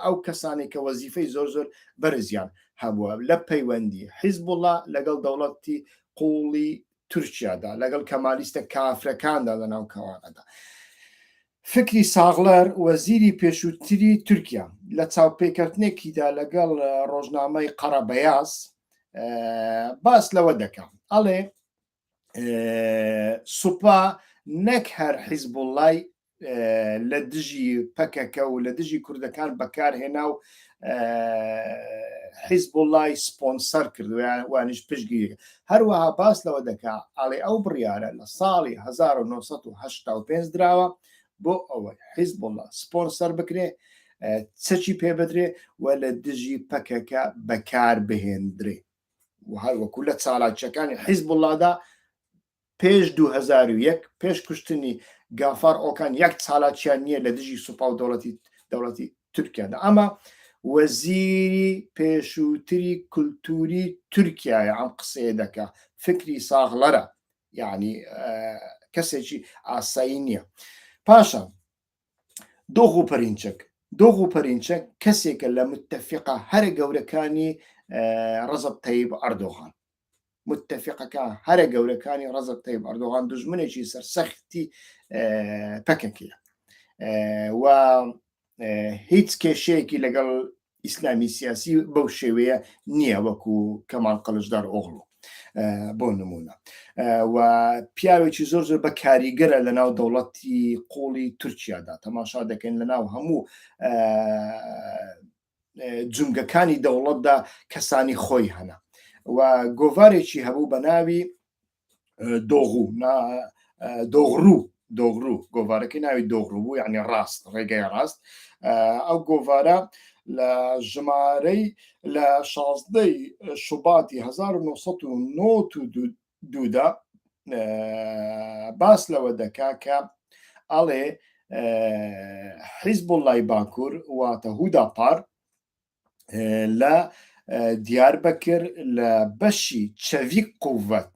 ئەو کەسانی کە وەزیفەی زۆر زۆر بەرزیان هەبووە لە پەیوەندی حیزب وڵە لەگەڵ دەوڵەتی قوڵی تورکیادا لەگەڵ کەمالیستە کافرەکاندا لە ناو کەوانەدا فکری ساغلەر، وەزیری پێشووتری تورکیا لە چاوپێکەوتنێکیدا لەگەڵ ڕۆژنامەی قەرە بەیاز باس لەوە دەکا ئەڵێ سوپا نەک هەر حیزبوڵای لە دژی پەکەکە و لە دژی کوردەکان بەکارهێنا و حیزب وڵی سپۆنسەر کردویان وانیش پشگیری هەروەها باس لەوە دەکا ئاڵێ ئەو بڕیاە لە ساڵی 1995 دراوە بۆ ئەوەی حیزب وڵە سپۆنسەر بکرێ چەکی پێ بدرێ و لە دژی پەکەکە بەکار بهێندرێ و هەروەکو لە چالاکیەکانی حیزب وڵادا پێش دوو هەزار و یەک پێش کوشتنی گافار ئۆکان یەک چالاکیان نییە لە دژی سوپا و دەوڵەتی دەوڵەتی تورکیادا ئەمە وەزیری پێشووتری کولتوری تورکایە ئەم قسەیە دەکە فکری ساغڵەرە یعنی کەسێکی ئاسایی نییە پاشە دۆغ و پەرینچەک دۆغ و پەرینچە کەسێکە لە متتەفقە هەرە گەورەکانی ڕزب تەیب ئەردۆغان متفقەکە هەرە گەورەکانی ڕزق تەیب ئەردۆغان دژمنێکی سەرسەختی پەکەکیە و هیچ کێشەیەکی لەگەڵ ئیسلامی سیاسی بەو شێوەیە نییە وەکو کەمال قەلشدار ئۆغڵۆ بۆ نمونە و پیاوێکی زۆر زۆر بە کاریگەرە لە ناو دەوڵەتی قوڵی تورکیادا تەماشا دەکەن لە ناو هەموو جومگەکانی دەوڵەتدا کەسانی خۆی هەنا و گۆڤارێکی هەبوو بە ناوی دۆغو دۆغڕو دۆغڕو گۆڤارەکەی ناوی دۆغڕو بوو یعنی ڕاست ڕێگای ڕاست ئەو گۆڤارە لە ژمارەی لە شازدەی شوباتی 1992 دودا باس لەوە دەکا کە ئەڵێ حیزب لای باکوور واتە هودا پار لە دیار بەکر لە بەشی چەویک قوت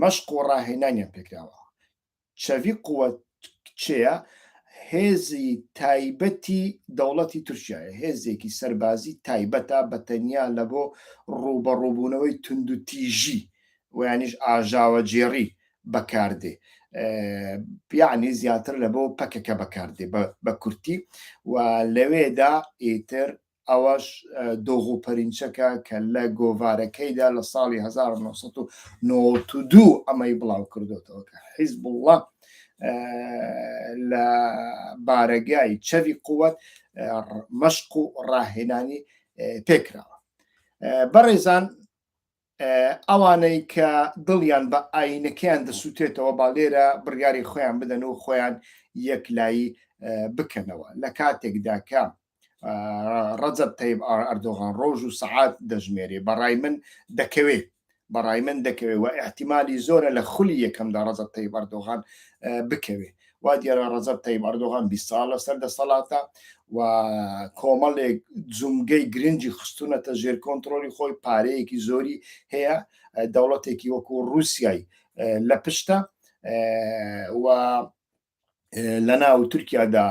مەشق و ڕاهێنانیان پێکراوە چەڤی قوت کچەیە هێزی تایبەتی دەوڵەتی تورکایە هێزێکی سەربازی تایبەتە بە تەنیا لە بۆ ڕووبەڕووبوونەوەی تونند و تیژی ویانیش ئاژاوە جێڕی بەکاردێ پیانی زیاتر لە بۆ پەکەکە بەکاردێ بە کورتی و لەوێدا ئیتر ئەوەش دۆغ و پەرینچەکە کە لە گۆڤارەکەیدا لە ساڵی هەزار و نۆ سەد و نەوەد و دوو ئەمەی بڵاوکردۆتەوە کە حیزبوڵڵا لە بارەگای چەڤی قووەت مەشق و ڕاهێنانی پێکراوە بەڕێزان ئەوانەی کە دڵیان بە ئاینەکەیان دەسووتێتەوە با لێرە بڕیاری خۆیان بدەن و خۆیان یەکلایی بکەنەوە لە کاتێکدا کە ڕەجەب تەیب ئەردۆغان ڕۆژ و سەعات دەژمێری بەڕای من دەکەوێت بەڕای من دەکەوێت و احتیممالی زۆرە لە خولی یەکەمدا ڕەزە تەی بەردۆغان بکەوێت وا دیارە ڕەزەب تەیب ئەردۆغان بیست ساڵە سەر دەسەڵاتە و کۆمەڵێک جومگەی گرنگی خستونەتە ژێر کۆنتترۆلی خۆی پارەیەکی زۆری هەیە دەوڵەتێکی وەکو رووسای لە پشتە و لە ناو تورکیادا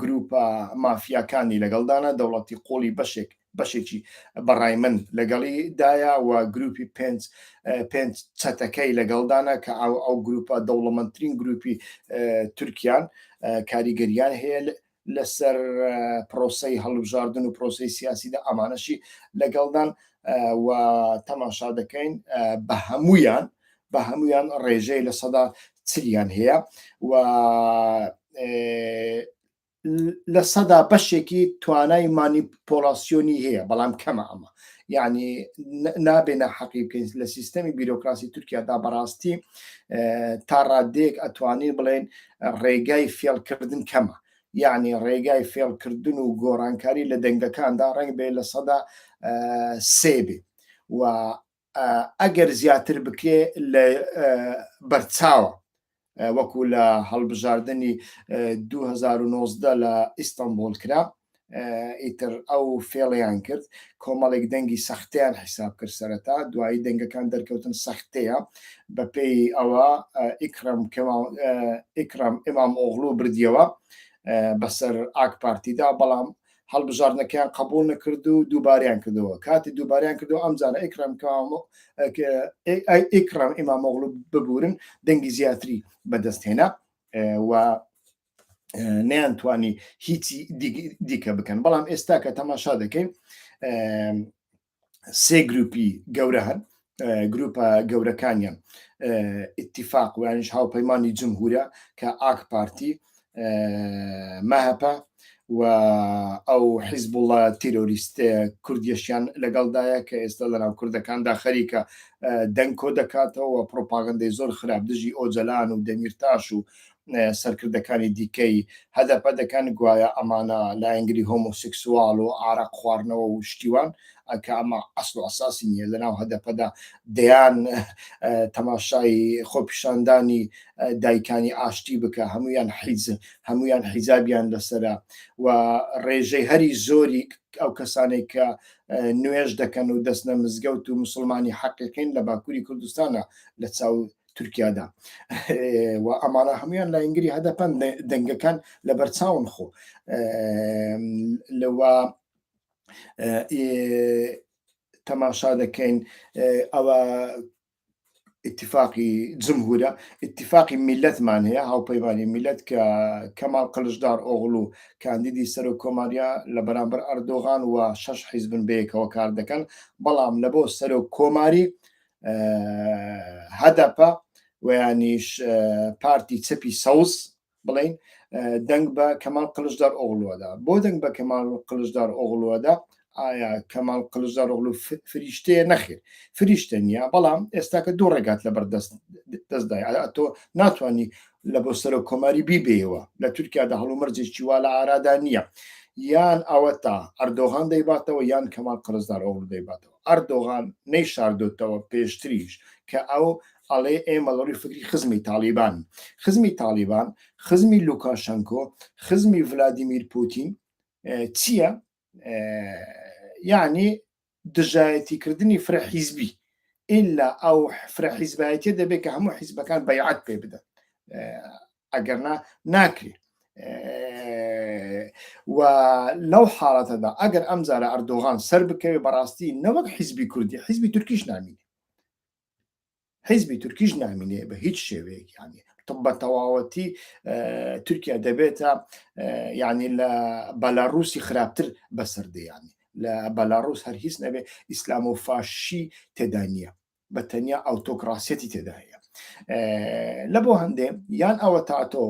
گروپە مافیاکانی لەگەڵدانە دەوڵەتی قۆڵی بەشێک بەشێکی بە ڕای من لەگەڵی دایە و گروپی پێنج پێنج چەتەکەی لەگەڵدانە کە ئەو ئەو گروپە دەوڵەمەندترین گروپی تورکیان کاریگەریان هەیە لەسەر پرۆسی هەڵبژاردن و پرۆسی سیاسیدا ئەمانەشی لەگەڵدان و تەماشا دەکەین بە هەمویان بە هەمویان ڕێژەی لە سەدا چلیان هەیە و لە سەدا بەشێکی توانای مانیپۆلاسیۆنی هەیە بەڵام کەمە ئەمە یعنی نابێنە حەقی بکەین لە سیستەمی بیرۆکراسی تورکیادا بەڕاستی تا ڕادێک ئەتوانین بڵێن ڕێگای فێڵکردن کەمە یعنی ڕێگای فێڵکردن و گۆڕانکاری لە دەنگەکاندا ڕنگ بێ لە سەدا سێ بێ و ئەگەر زیاتر بکرێ لە بەرچاوە وەکو لە هەڵبژاردنی دوو هەزار و نۆزدە لە ئیستەنبوڵ کرا ئیتر ئەو فێڵیان کرد کۆمەڵێک دەنگی سەختیان حیساب کرد سەرەتا دوایی دەنگەکان دەرکەوتن سەختەیە بەپێی ئەوە ئیکرم ئیکرم ئمام ئۆغلو بردیەوە بەسەر ئاک پارتیدا بەڵام هەڵبژاردنەکەیان قبول نەکرد و دووباریان کردەوە کاتی دووباریان کردەوە ئەم جارە ئەیکرام ئیکرام ئیمامۆغل ببورن دەنگی زیاتری بەدەستهێنا و نیان توانی هیچی دیکە بکەن بەڵام ئێستا کە تەماشا دەکەین سێ گروپی گەورە هەن گروپە گەورەکانیان ئتیفاق وانش هاوپەیمانانی جمهورە کە ئاک پارتی مەهپە و ئەو حیزب وڵە تیرۆریست کوردیشیان لەگەڵدایە کە ئێستا لەناو کوردەکاندا خەریکە دەنگ کۆ دەکاتەوە پرۆپاگەندەی زۆر خراپ دژی ئۆجلان و دەمیرتاش و سەرکردەکانی دیکەی هەدەپە دەکەن گوایە ئەمانە لایەنگری هۆمۆسکسوال و ئارەق خواردنەوە و شتیوان کە ئەمە ئەسڵ ئەساسی نییە لەناو هەدەپەدا دەیان تەماشای خۆپیشاندانی دایکانی ئاشتی بکە هەمویان حیز هەمویان حیزابیان لەسرە و ڕێژەی هەری زۆری ئەو کەسانێک کە نوێش دەکەن و دەستنە مزگەوت و مسلمانی حەقیقین لە باکووری کوردستانە لە چاو تورکیادا و ئەمانە هەمویان لاینگری هەدەپەن دەنگەکان لە بەرچاون خۆ لەوە تەماشا دەکەین ئەوە اتفاقی جمهورە اتفاقی میلەتمان هەیە هاوپەیمانی میلەت کە کەماڵ قلشدار ئۆغڵ و کاندیدی سەر و کۆماریا لە بەرامبەر ئەردۆغان و شش حیزبن بەیەکەوە کار دەکەن بەڵام لە بۆ سەر و کۆماری هەدەپە ویانیش پارتی چەپی سەوز بڵین دەنگ بە کەمال قلشدار ئۆغلوەدا بۆ دەنگ بە کەمال قلشدار ئۆغلوەدا ئایا کەمال قلشدار ئۆغلو فریشتەیە نەخێر فریشتە نیە بەڵام ئێستاکە دوو ڕێگات لە بەردەست دەستدای تۆ ناتانی لە بۆ سەر و کۆماری بیبێەوە لە تورکیادا هەڵومەرجێکی وا لە ئارادا نییە یان ئەوە تا ئەردۆغان دەیباتەوە یان کەمال قرزدار ئۆغل دەیباتەوە ئەردۆغان نەیشاردۆتەوە پێشتریش کە ئەو ئەڵێ ئێمە لەڕووی فکری خزمی تاڵیبان خزمی تاڵیبان خزمی لوکاشەنکۆ خزمی ڤلادیمیر پوتین چییە یعنی دژایەتی کردنی فرە حیزبی ئللا ئەو فرە حیزبایەتە دەبێت کە هەموو حیزبەکان بەیعات پێ بدەن ئەگەرنا ناکرێ و لەو حاڵەتەدا ئەگەر ئەم زارە ئەردۆغان سەر بکەوێ بەڕاستی نەوەک حیزبی کوردی حیزبی تورکیش نامین حیزبی تورکیش نامینێ بە هیچ شێوەیەکیانی بە تەواوەتی تورکیا دەبێتە ینی لە بەلاڕوسی خراپتر بەسەردەیانی لە بەلاڕوس هەر هیچ نەبێ ئیسلام و فاشی تێدا نییە بە تەنیا ئەوتۆکراسیەتی تێدا هەیە لە بۆ هەندێ یان ئەوە تا تۆ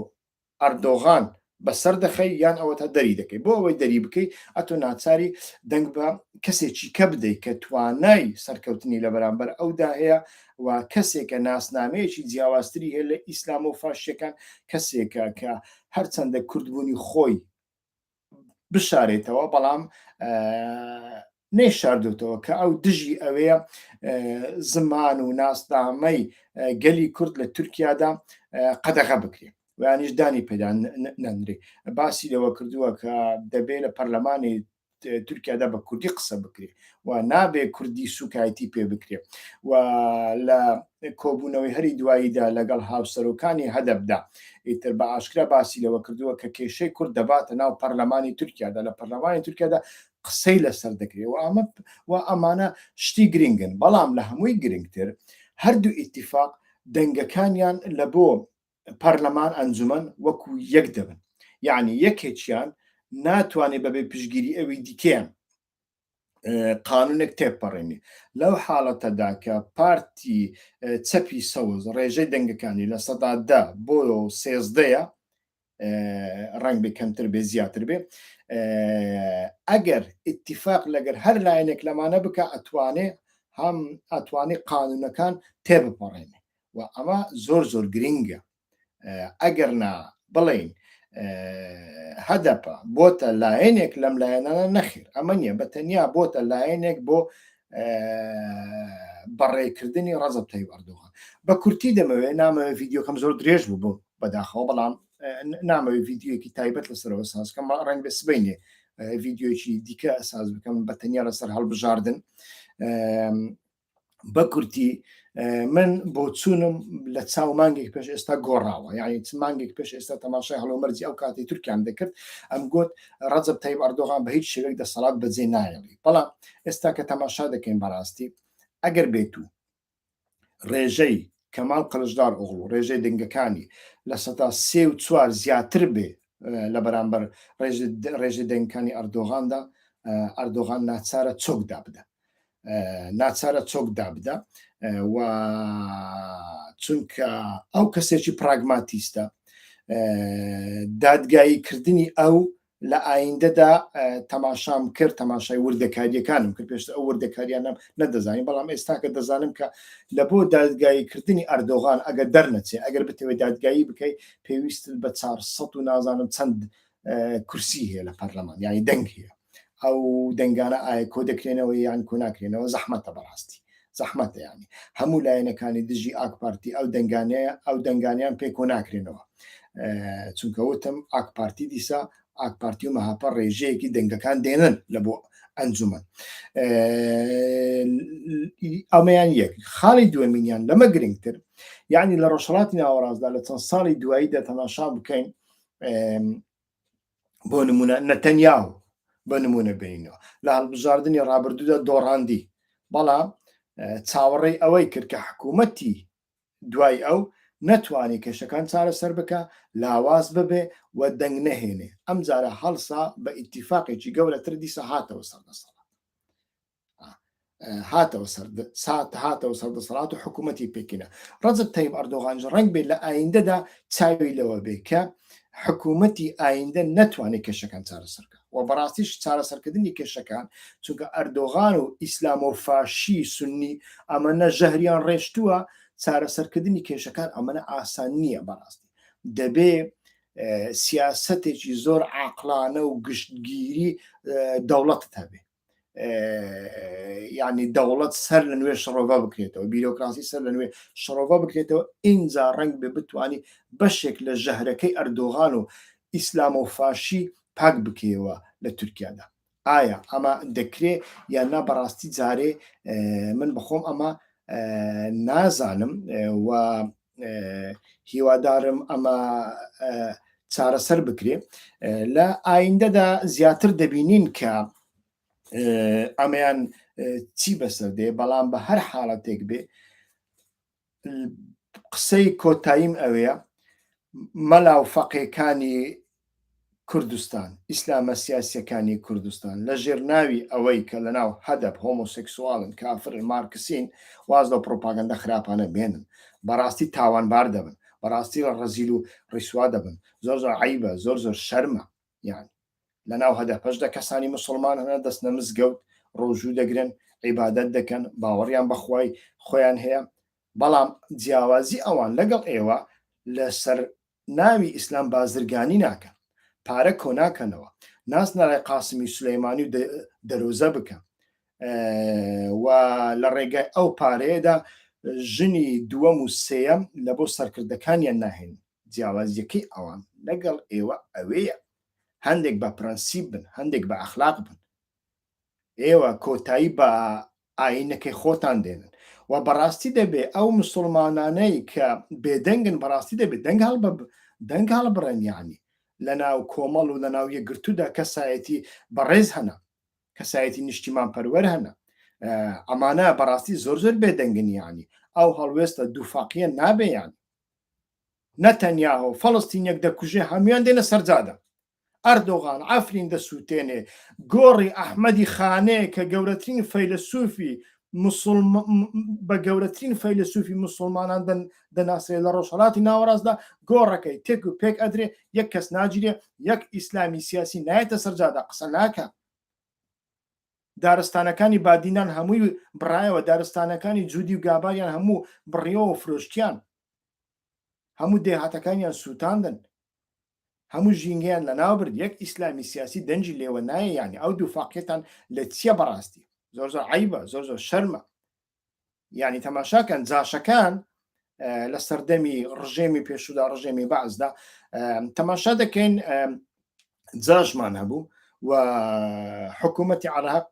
ئەردۆغان بەسەر دەخەی یان ئەوە تا دەری دەکەی بۆ ئەوەی دەری بکەی ئەتۆ ناچاری دەنگ بە کەسێکی کە بدەیت کە توانای سەرکەوتنی لە بەرامبەر ئەودا هەیە و کەسێکە ناسنامەیەکی جیاوازتری هەیە لە ئیسلام و فاشەکان کەسێکە کە هەرچەندە کوردبوونی خۆی بشارێتەوە بەڵام نەیشاردوتەوە کە ئەو دژی ئەوەیە زمان و ناسنامەی گەلی کورد لە تورکیادا قەدەغە بکرێت وانیش دانی پێدان نەنرێ باسی لەوە کردووە کە دەبێت لە پەرلەمانی تورکیادا بە کوردی قسە بکرێت و نابێ کوردی سوکایتی پێ بکرێ و لە کۆبوونەوەی هەری دواییدا لەگەڵ هاوسەرۆکانی هەدەبدا ئیتر بە ئاشکرا باسی لەوە کردووە کە کێشەی کورد دەباتە ناو پەرلەمانی تورکیادا لە پەرلەمانی تورکیادا قسەی لەسەر دەکرێت و ئەمە و ئەمانە شتی گرنگن بەڵام لە هەمووی گرنگتر هەردوو ئیتیفاق دەنگەکانیان لە بۆ پەرلەمان ئەنجومەن وەکو یەک دەبن یعنی یەکێکیان ناتوانێت بەبێ پشگیری ئەوی دیکەیان قانونێک تێپەڕێنی لەو حاڵەتەدا کە پارتی چەپی سەوز ڕێژەی دەنگەکانی لە سەدادا بۆ سێزدەیە ڕنگ بێ کەمتر بێ زیاتر بێ ئەگەر ئتیفاق لەگەر هەر لایەنێک لەمانە بکە ئەتوانێ هەم ئەتوانی قانونەکان تێبپەڕێنێ و ئەمە زۆر زۆر گرنگە ئەگەر نا بڵێین هەدەپە بۆتە لایەنێک لەم لایەنانە نەخیر ئەمە نیە بە تەنیا بۆتە لایەنێک بۆ بەڕێکردنی ڕزە تای وەردووە بە کورتی دەمەوێ نامەوێ ڤیددیوکەم زۆر درێژ بوو بۆ بەداخەوە بەڵام نامەوێ ڤیددیوەکی تایبەت لەسەرەوە سازکەم ڕێن بێ سبینێ ڤیددیوکی دیکە ئەساز بکەم بە تەنیا لەسەر هەڵبژاردن بەکورتی من بۆ چوونم لە چاو مانگێک پێش ئێستا گۆڕاوە یعنی چ مانگێک پێش ئێستا تەماشای هەڵۆمەرجی ئەو کاتی تورکیان دەکرد ئەم گوت ڕەجب تای ئەردۆغان بە هیچ شێوێک دەسەڵات بەجێ نایڵی بەڵام ئێستا کە تەماشا دەکەین بەڕاستی ئەگەر بێت و ڕێژەی کەمال قەلشدار ئۆغڵ و ڕێژەی دەنگەکانی لە سەدا سێ و چوار زیاتر بێ لە بەرامبەر ڕێژە دەنگکانی ئەردۆغاندا ئەردۆغان ناچارە چۆکدا بدەن ناچارە چۆک دابدا و چونکە ئەو کەسێکی پراگماتیستە دادگایی کردنی ئەو لە ئایندەدا تەماشام کرد تەماشای وردەکاریەکانم کرد پێشتر ئەو وردەکاریانم نەدەزانین بەڵام ئێستاکە دەزانم کە لە بۆ دادگاییکردنی ئەردۆغان ئەگەر دەرنەچێ ئەگەر بتەوێت دادگایی بکەیت پێویست بە 400 و نازانم چەند کورسی هەیە لە پەرلەمان یانی دەنگ هەیە ئەو دەنگانە ئایا کۆ دەکرێنەوە یان کۆ ناکرێنەوە زەحمەتە بەڕاستی زەحمەتە ینی هەموو لایەنەکانی دژی ئاکپارتی ئەو دەنگانەیە ئەو دەنگانیان پێ کۆ ناکرێنەوە چونکە وتم ئاکپارتی دیسا ئاکپارتی و مەهاپە ڕێژەیەکی دەنگەکان دێنن لە بۆ ئەنجومەن ئەمەیان یەک خاڵی دوێمینیان لەمە گرنگتر یعنی لە ڕۆژهڵاتی ناوەڕاستدا لە چەند ساڵی دوایی دەتەماشا بکەین بۆ نمونە نەتەنیاو بە نمونە بینەوە لە هەڵبژاردننی ڕابردوودا دۆڕاندی بەڵام چاوەڕێی ئەوەی کرد کە حکوومەتی دوای ئەو نەتوانانی کێشەکان چارەسەر بکە لاواز ببێ و دەنگ نەهێنێ ئەم جارە هەڵسا بە ئیتیفاقێکی گەورەتر دیسە هاتەوە سەردەسەڵات هاتەوە سات هاتەوە سەر دەسەڵات و حکوومەتتی پێکینە ڕزت تەیب ئەردۆغانج ڕنگ بێت لە ئایندەدا چاوی لەوە بێ کە حکوومەتتی ئایندە نەتوانێت کێشەکان چارەسەرکە و بەڕاستیش چارەسەرکردنی کێشەکان چونکە ئەردۆغان و ئیسلام و فاشی سنی ئەمە نە ژەهریان ڕێشتووە چارەسەرکردنی کێشەکان ئەمەە ئاسان نییە بەڕاستی دەبێ سیاستێکی زۆر عقلانە و گشتگیری دەوڵەت هەبێت ینی دەوڵەت سەر لە نوێ شڕۆڤە بکرێتەوە بیرۆکراسی سەر لە نوێ شڕۆڤە بکرێتەوە ئینجا ڕنگ بێ بتانی بەشێک لە ژەهرەکەی ئەردۆغان و ئیسلام و فاشی پاک بکەوە لە تورکیادا ئایا ئەمە دەکرێ یان نا بەڕاستی جارێ من بخۆم ئەمە نازانم و هیوادارم ئەمە چارەسەر بکرێ لە ئایندەدا زیاتر دەبینین کە ئەمەیان چی بەسەر دێ بەڵام بە هەر حاڵەتێک بێ قسەی کۆتاییم ئەوەیە مەلا و فەقێکانی کوردستان، ئیسلامە سیاسیەکانی کوردستان لە ژێر ناوی ئەوەی کە لە ناو هەدەپ هۆمۆسێکسواڵن کافرن مارکسین واز لەو پڕۆپاگەندە خراپانە بێنن بەڕاستی تاوانبار دەبن بەڕاستی ڕەزیل و ڕیسوا دەبن زۆر زۆر عەیبە زۆر زۆر شەرمە یان لە ناو هەدەپەش دە کەسانی مسلمان هەنە دەستنە مزگەوت ڕۆژوو دەگرن عیبادەت دەکەن باوەڕیان بەخوای خۆیان هەیە بەڵام جیاوازی ئەوان لەگەڵ ئێوە لەسەر ناوی ئیسلام بازرگانی ناکەن پارە کۆناکەنەوە ناس نەرای قاسمی سلەیمانی و دەرۆزە بکە و لە ڕێگای ئەو پارەیەدا ژنی دووەم و سێەم لە بۆ سەرکردەکانیان ناهێن جیاوازیەکەی ئەوان لەگەڵ ئێوە ئەوەیە هەندێک بە پرەنسیب بن هەندێک بە ئەخلاق بن ئێوە کۆتایی بە ئاینەکەی خۆتان دێنن و بەڕاستی دەبێ ئەو مسلمانانەی کە بێدەنگن بەڕاستی دەبێت دەنگ هەڵ دەنگ هەڵ بڕێن یعنی لە ناو کۆمەڵ و لە ناو یەکگرتوودا کەسایەتی بەڕێز هەنا کەسایەتی نیشتیمان پەروەەر هەنا ئەمانە بەڕاستی زۆر زۆر بێدەنگنیانی ئەو هەڵوێستە دووفاقیە نابێیان نەتەنیاهۆ فەڵستین یەک دەکوژێ هەمویان دێنە سەرجادە ئەردۆغان عەفرین دەسووتێنێ، گۆڕی ئەحمەدی خانێ کە گەورەترین فەیلەسووفی بە گەورەترین فەیلەسووفی موسڵمانان دەناسرێ لە ڕۆژهەڵاتی ناوەڕاستدا گۆڕەکەی تێک و پێک ئەدرێ یەک کەس ناگیرێ یەک ئیسلامی سیاسی نایەتە سەرجادا قسە ناکە دارستانەکانی بادینان هەمووی بڕایەوە دارستانەکانی جوودی و گاباریان هەموو بڕیەوە فرۆشتیان هەموو دێهاتەکانیان سووتاندن هەموو ژینگەیان لەناو برد یەک ئیسلامی سیاسی دەنجی لێوە نایە یانی ئەو دوو فاقیتان لە چییە بەڕاستی زۆر زۆر عیبە زۆر زۆر شەرمە یانی تەماشاکەن جاشەکان لە سەردەمی ڕژێمی پێشودا ڕژێمی بەعزدا تەماشا دەکەین جاشمان هەبوو و حکوومەتی عراق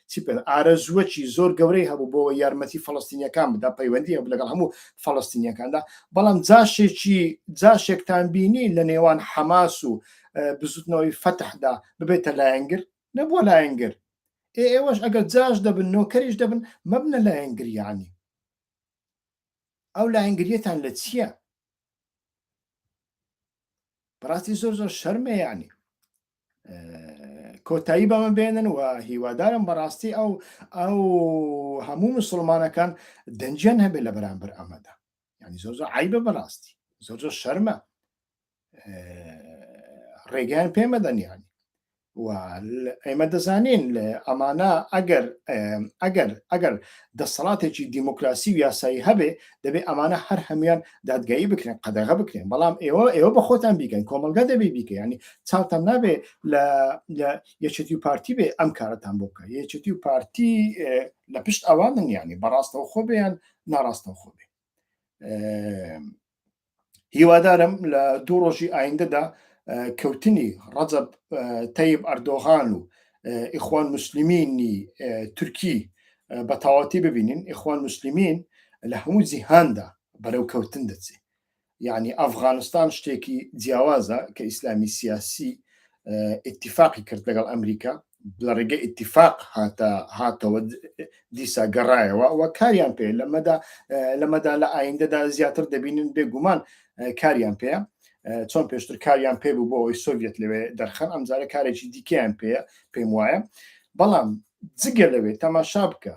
چی بکەن ئارەزووەکی زۆر گەورەی هەبوو بۆ یارمەتی فەڵستینیەکان بدا پەیوەندی هەبوو لەگەڵ هەموو فەڵستینیەکاندا بەڵام جاشێکی جاشێکتان بینی لە نێوان حەماس و بزوتنەوەی فەتحدا ببێتە لایەنگر نەبووە لایەنگر ئێ ئێوەش ئەگەر جاش دەبن نۆکەریش دەبن مەبنە لایەنگریانی ئەو لایەنگریەتان لە چییە؟ بەڕاستی زۆر زۆر شەرمەیانی کۆتایی بەمە بێنن و هیوادارم بەڕاستی ئەو ئەو هەموو مسلمانەکان دەنجیان هەبێت لە بەرامبەر ئەمەدا ینی زۆر زۆر عیبە بەڕاستی زۆر زۆر شەرمە ڕێگەیان پێمەدەنیان ئێمە دەزانین ئەمانە ئەگەر ئەگەر ئەگەر دەسەڵاتێکی دیموکراسی و یاسایی هەبێ دەبێت ئەمانە هەر هەمویان دادگایی بکرێن قەدەغە بکرێن بەڵام ئێوە ئێوە بە خۆتان بیکەن کۆمەلگا دەبێ بیکە ینی چاوتان نابێ لە یەچەتی و پارتی بێ ئەم کارەتان بۆ بکە یەچەتی و پارتی لە پشت ئەوان منیانی بەڕاستەوە خۆ بێیان ناڕاستەوە خۆ بێ هیوادارم لە دوو ڕۆژی ئایندەدا کەوتنی ڕەجەب تەیب ئەردۆغان و ئیخوان مسللمینی تورکی بە تەواتی ببینین ئیخوان مسللمین لە هەموو جیهاندا بەرەو کەوتن دەچێت یعنی ئەفغانستان شتێکی جیاوازە کە ئیسلامی سیاسی ئتیفاقی کرد لەگەڵ ئەمریکا لە ڕێگە ئتیفاق هاتە هاتەوە دیسا گەڕایەوە و کاریان پێ لەمەدا لەمەدا لە ئایندەدا زیاتر دەبینن بێگومان کاریان پێ چۆن پێشتر کاریان پێ بوو بۆ ئەوی سۆڤێت لەوێ دەرخەن ئەمجارە کارێکی دیکەیان پێ پێم وایە بەڵام جگە لەوێ تەماشا بکە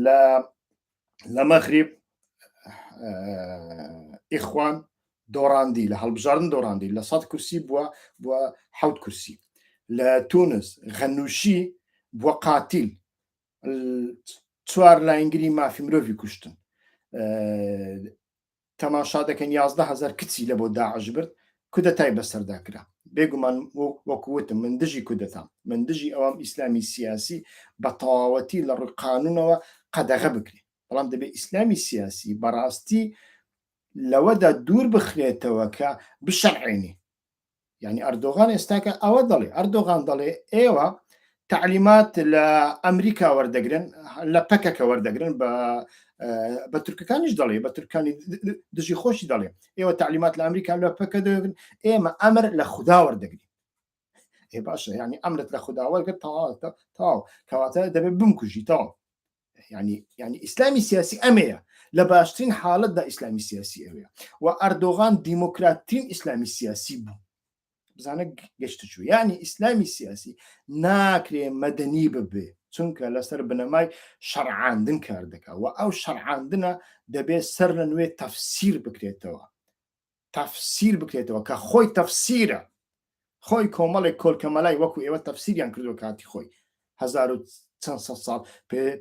لە لە مەغریب ئیخوان دۆڕاندی لە هەڵبژاردن دۆڕاندی لە سەد کورسی بووە بۆ حوت کورسی لە تونس غەنووشی بۆ قاتیل چوار لاینگری مافی مرۆڤی کوشتن تەماشا دەکەین یازدە هەزار کچی لەبۆ داعش برد کودەتای بەسەردا کرا بێگومان وەکو وتم من دژی کودەتام من دژی ئەوام ئیسلامی سیاسی بەتەواوەتی لەڕووی قانونەوە قەدەغە بکرێ بەڵام دەبێ ئیسلامی سیاسی بەڕاستی لەوەدا دوور بخرێتەوە کە بشەرعێنی یعنی ئەردۆغان ئێستاکە ئەوە دەڵێ ئەردۆغان دەڵێ ئێوە تعلیمات لە ئەمریکا وەردەگرن لە پەکەکە وەردەگرن بە بە تورکەکانیش دەڵێ بە تورکانی دژی خۆشی دەڵێ ئێوە تعلیمات لە ئەمریکا لە پەکە دەگرن ئێمە ئەمر لە خوددا وەردەگرین باشە ینی ئەمرت لە خودداوەگە تەواوتە تاو کەواتە دەبێت بمکوژی تاو ینی ینی ئیسلامی سیاسی ئەمەیە لە باشترین حاڵەتدا ئیسلامی سیاسی ئەوەیە و ئەردۆغان دیموکراتترین ئیسلامی سیاسی بوو بزانە گەشت چوو ینی ئیسلامی سیاسی ناکرێ مەدەنی ببێ چونکە لەسەر بنەمای شەرعاندن کار دەکات و ئەو شەرعاندنە دەبێت سەر لە نوێ تەفسیر بکرێتەوە تەفسیر بکرێتەوە کە خۆی تەفسیرە خۆی کۆمەڵێک کۆلکە مەلای وەکو ئێوە تەفسیریان کردو کاتی خۆی هزار و چەند سە ساڵ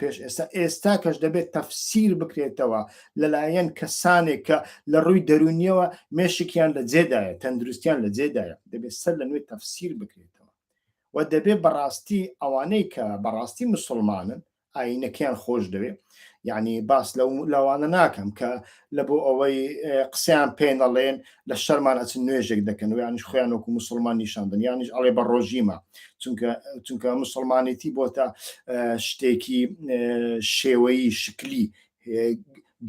پێش ئێستا ئێستا کەش دەبێت تەفسیر بکرێتەوە لەلایەن کەسانێک کە لە ڕووی دەرونیەوە مێشکیان لە جێدایە تەندروستیان لە جێدایە دەبێت سەر لە نوێ تەفسیر بکرێتەوە و دەبێت بەڕاستی ئەوانەی کە بەڕاستی مسلمانن ئاینەکەیان خۆش دەوێ یعنی باس لەو لاوانە ناکەم کە لە بۆ ئەوەی قسەیان پێ نەڵێن لە شەرمان ئەچن نوێژێک دەکەن و یانش خۆیان وەکو مسلمان نیشاندن یانش ئەڵێ بە ڕۆژیمە چونکە چونکە مسلمانێتی بۆ تا شتێکی شێوەی شکلی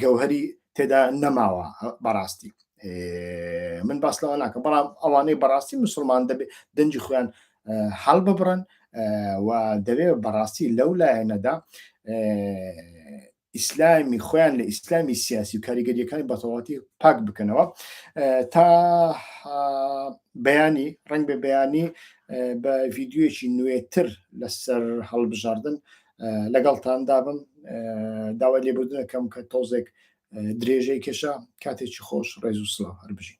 گەوهری تێدا نەماوە بەڕاستی من باس لەوە ناکەم بەڵام ئەوانەی بەڕاستی مسلمان دەبێت دەنجی خۆیان هەڵببڕن و دەوێ بەڕاستی لەو لایەنەدا ئیسلامی خۆیان لە ئیسلامی سیاسی و کاریگەریەکانی بەتەواتی پاک بکەنەوە تا بەیانی ڕنگ بە بەیانی بە ڤیددیوەکی نوێتر لەسەر هەڵبژاردن لەگەڵتاندا بم داوای لێبوردنەکەم کە تۆزێک درێژەی کێشە کاتێکی خۆش ڕێز و سڵاو هەربژین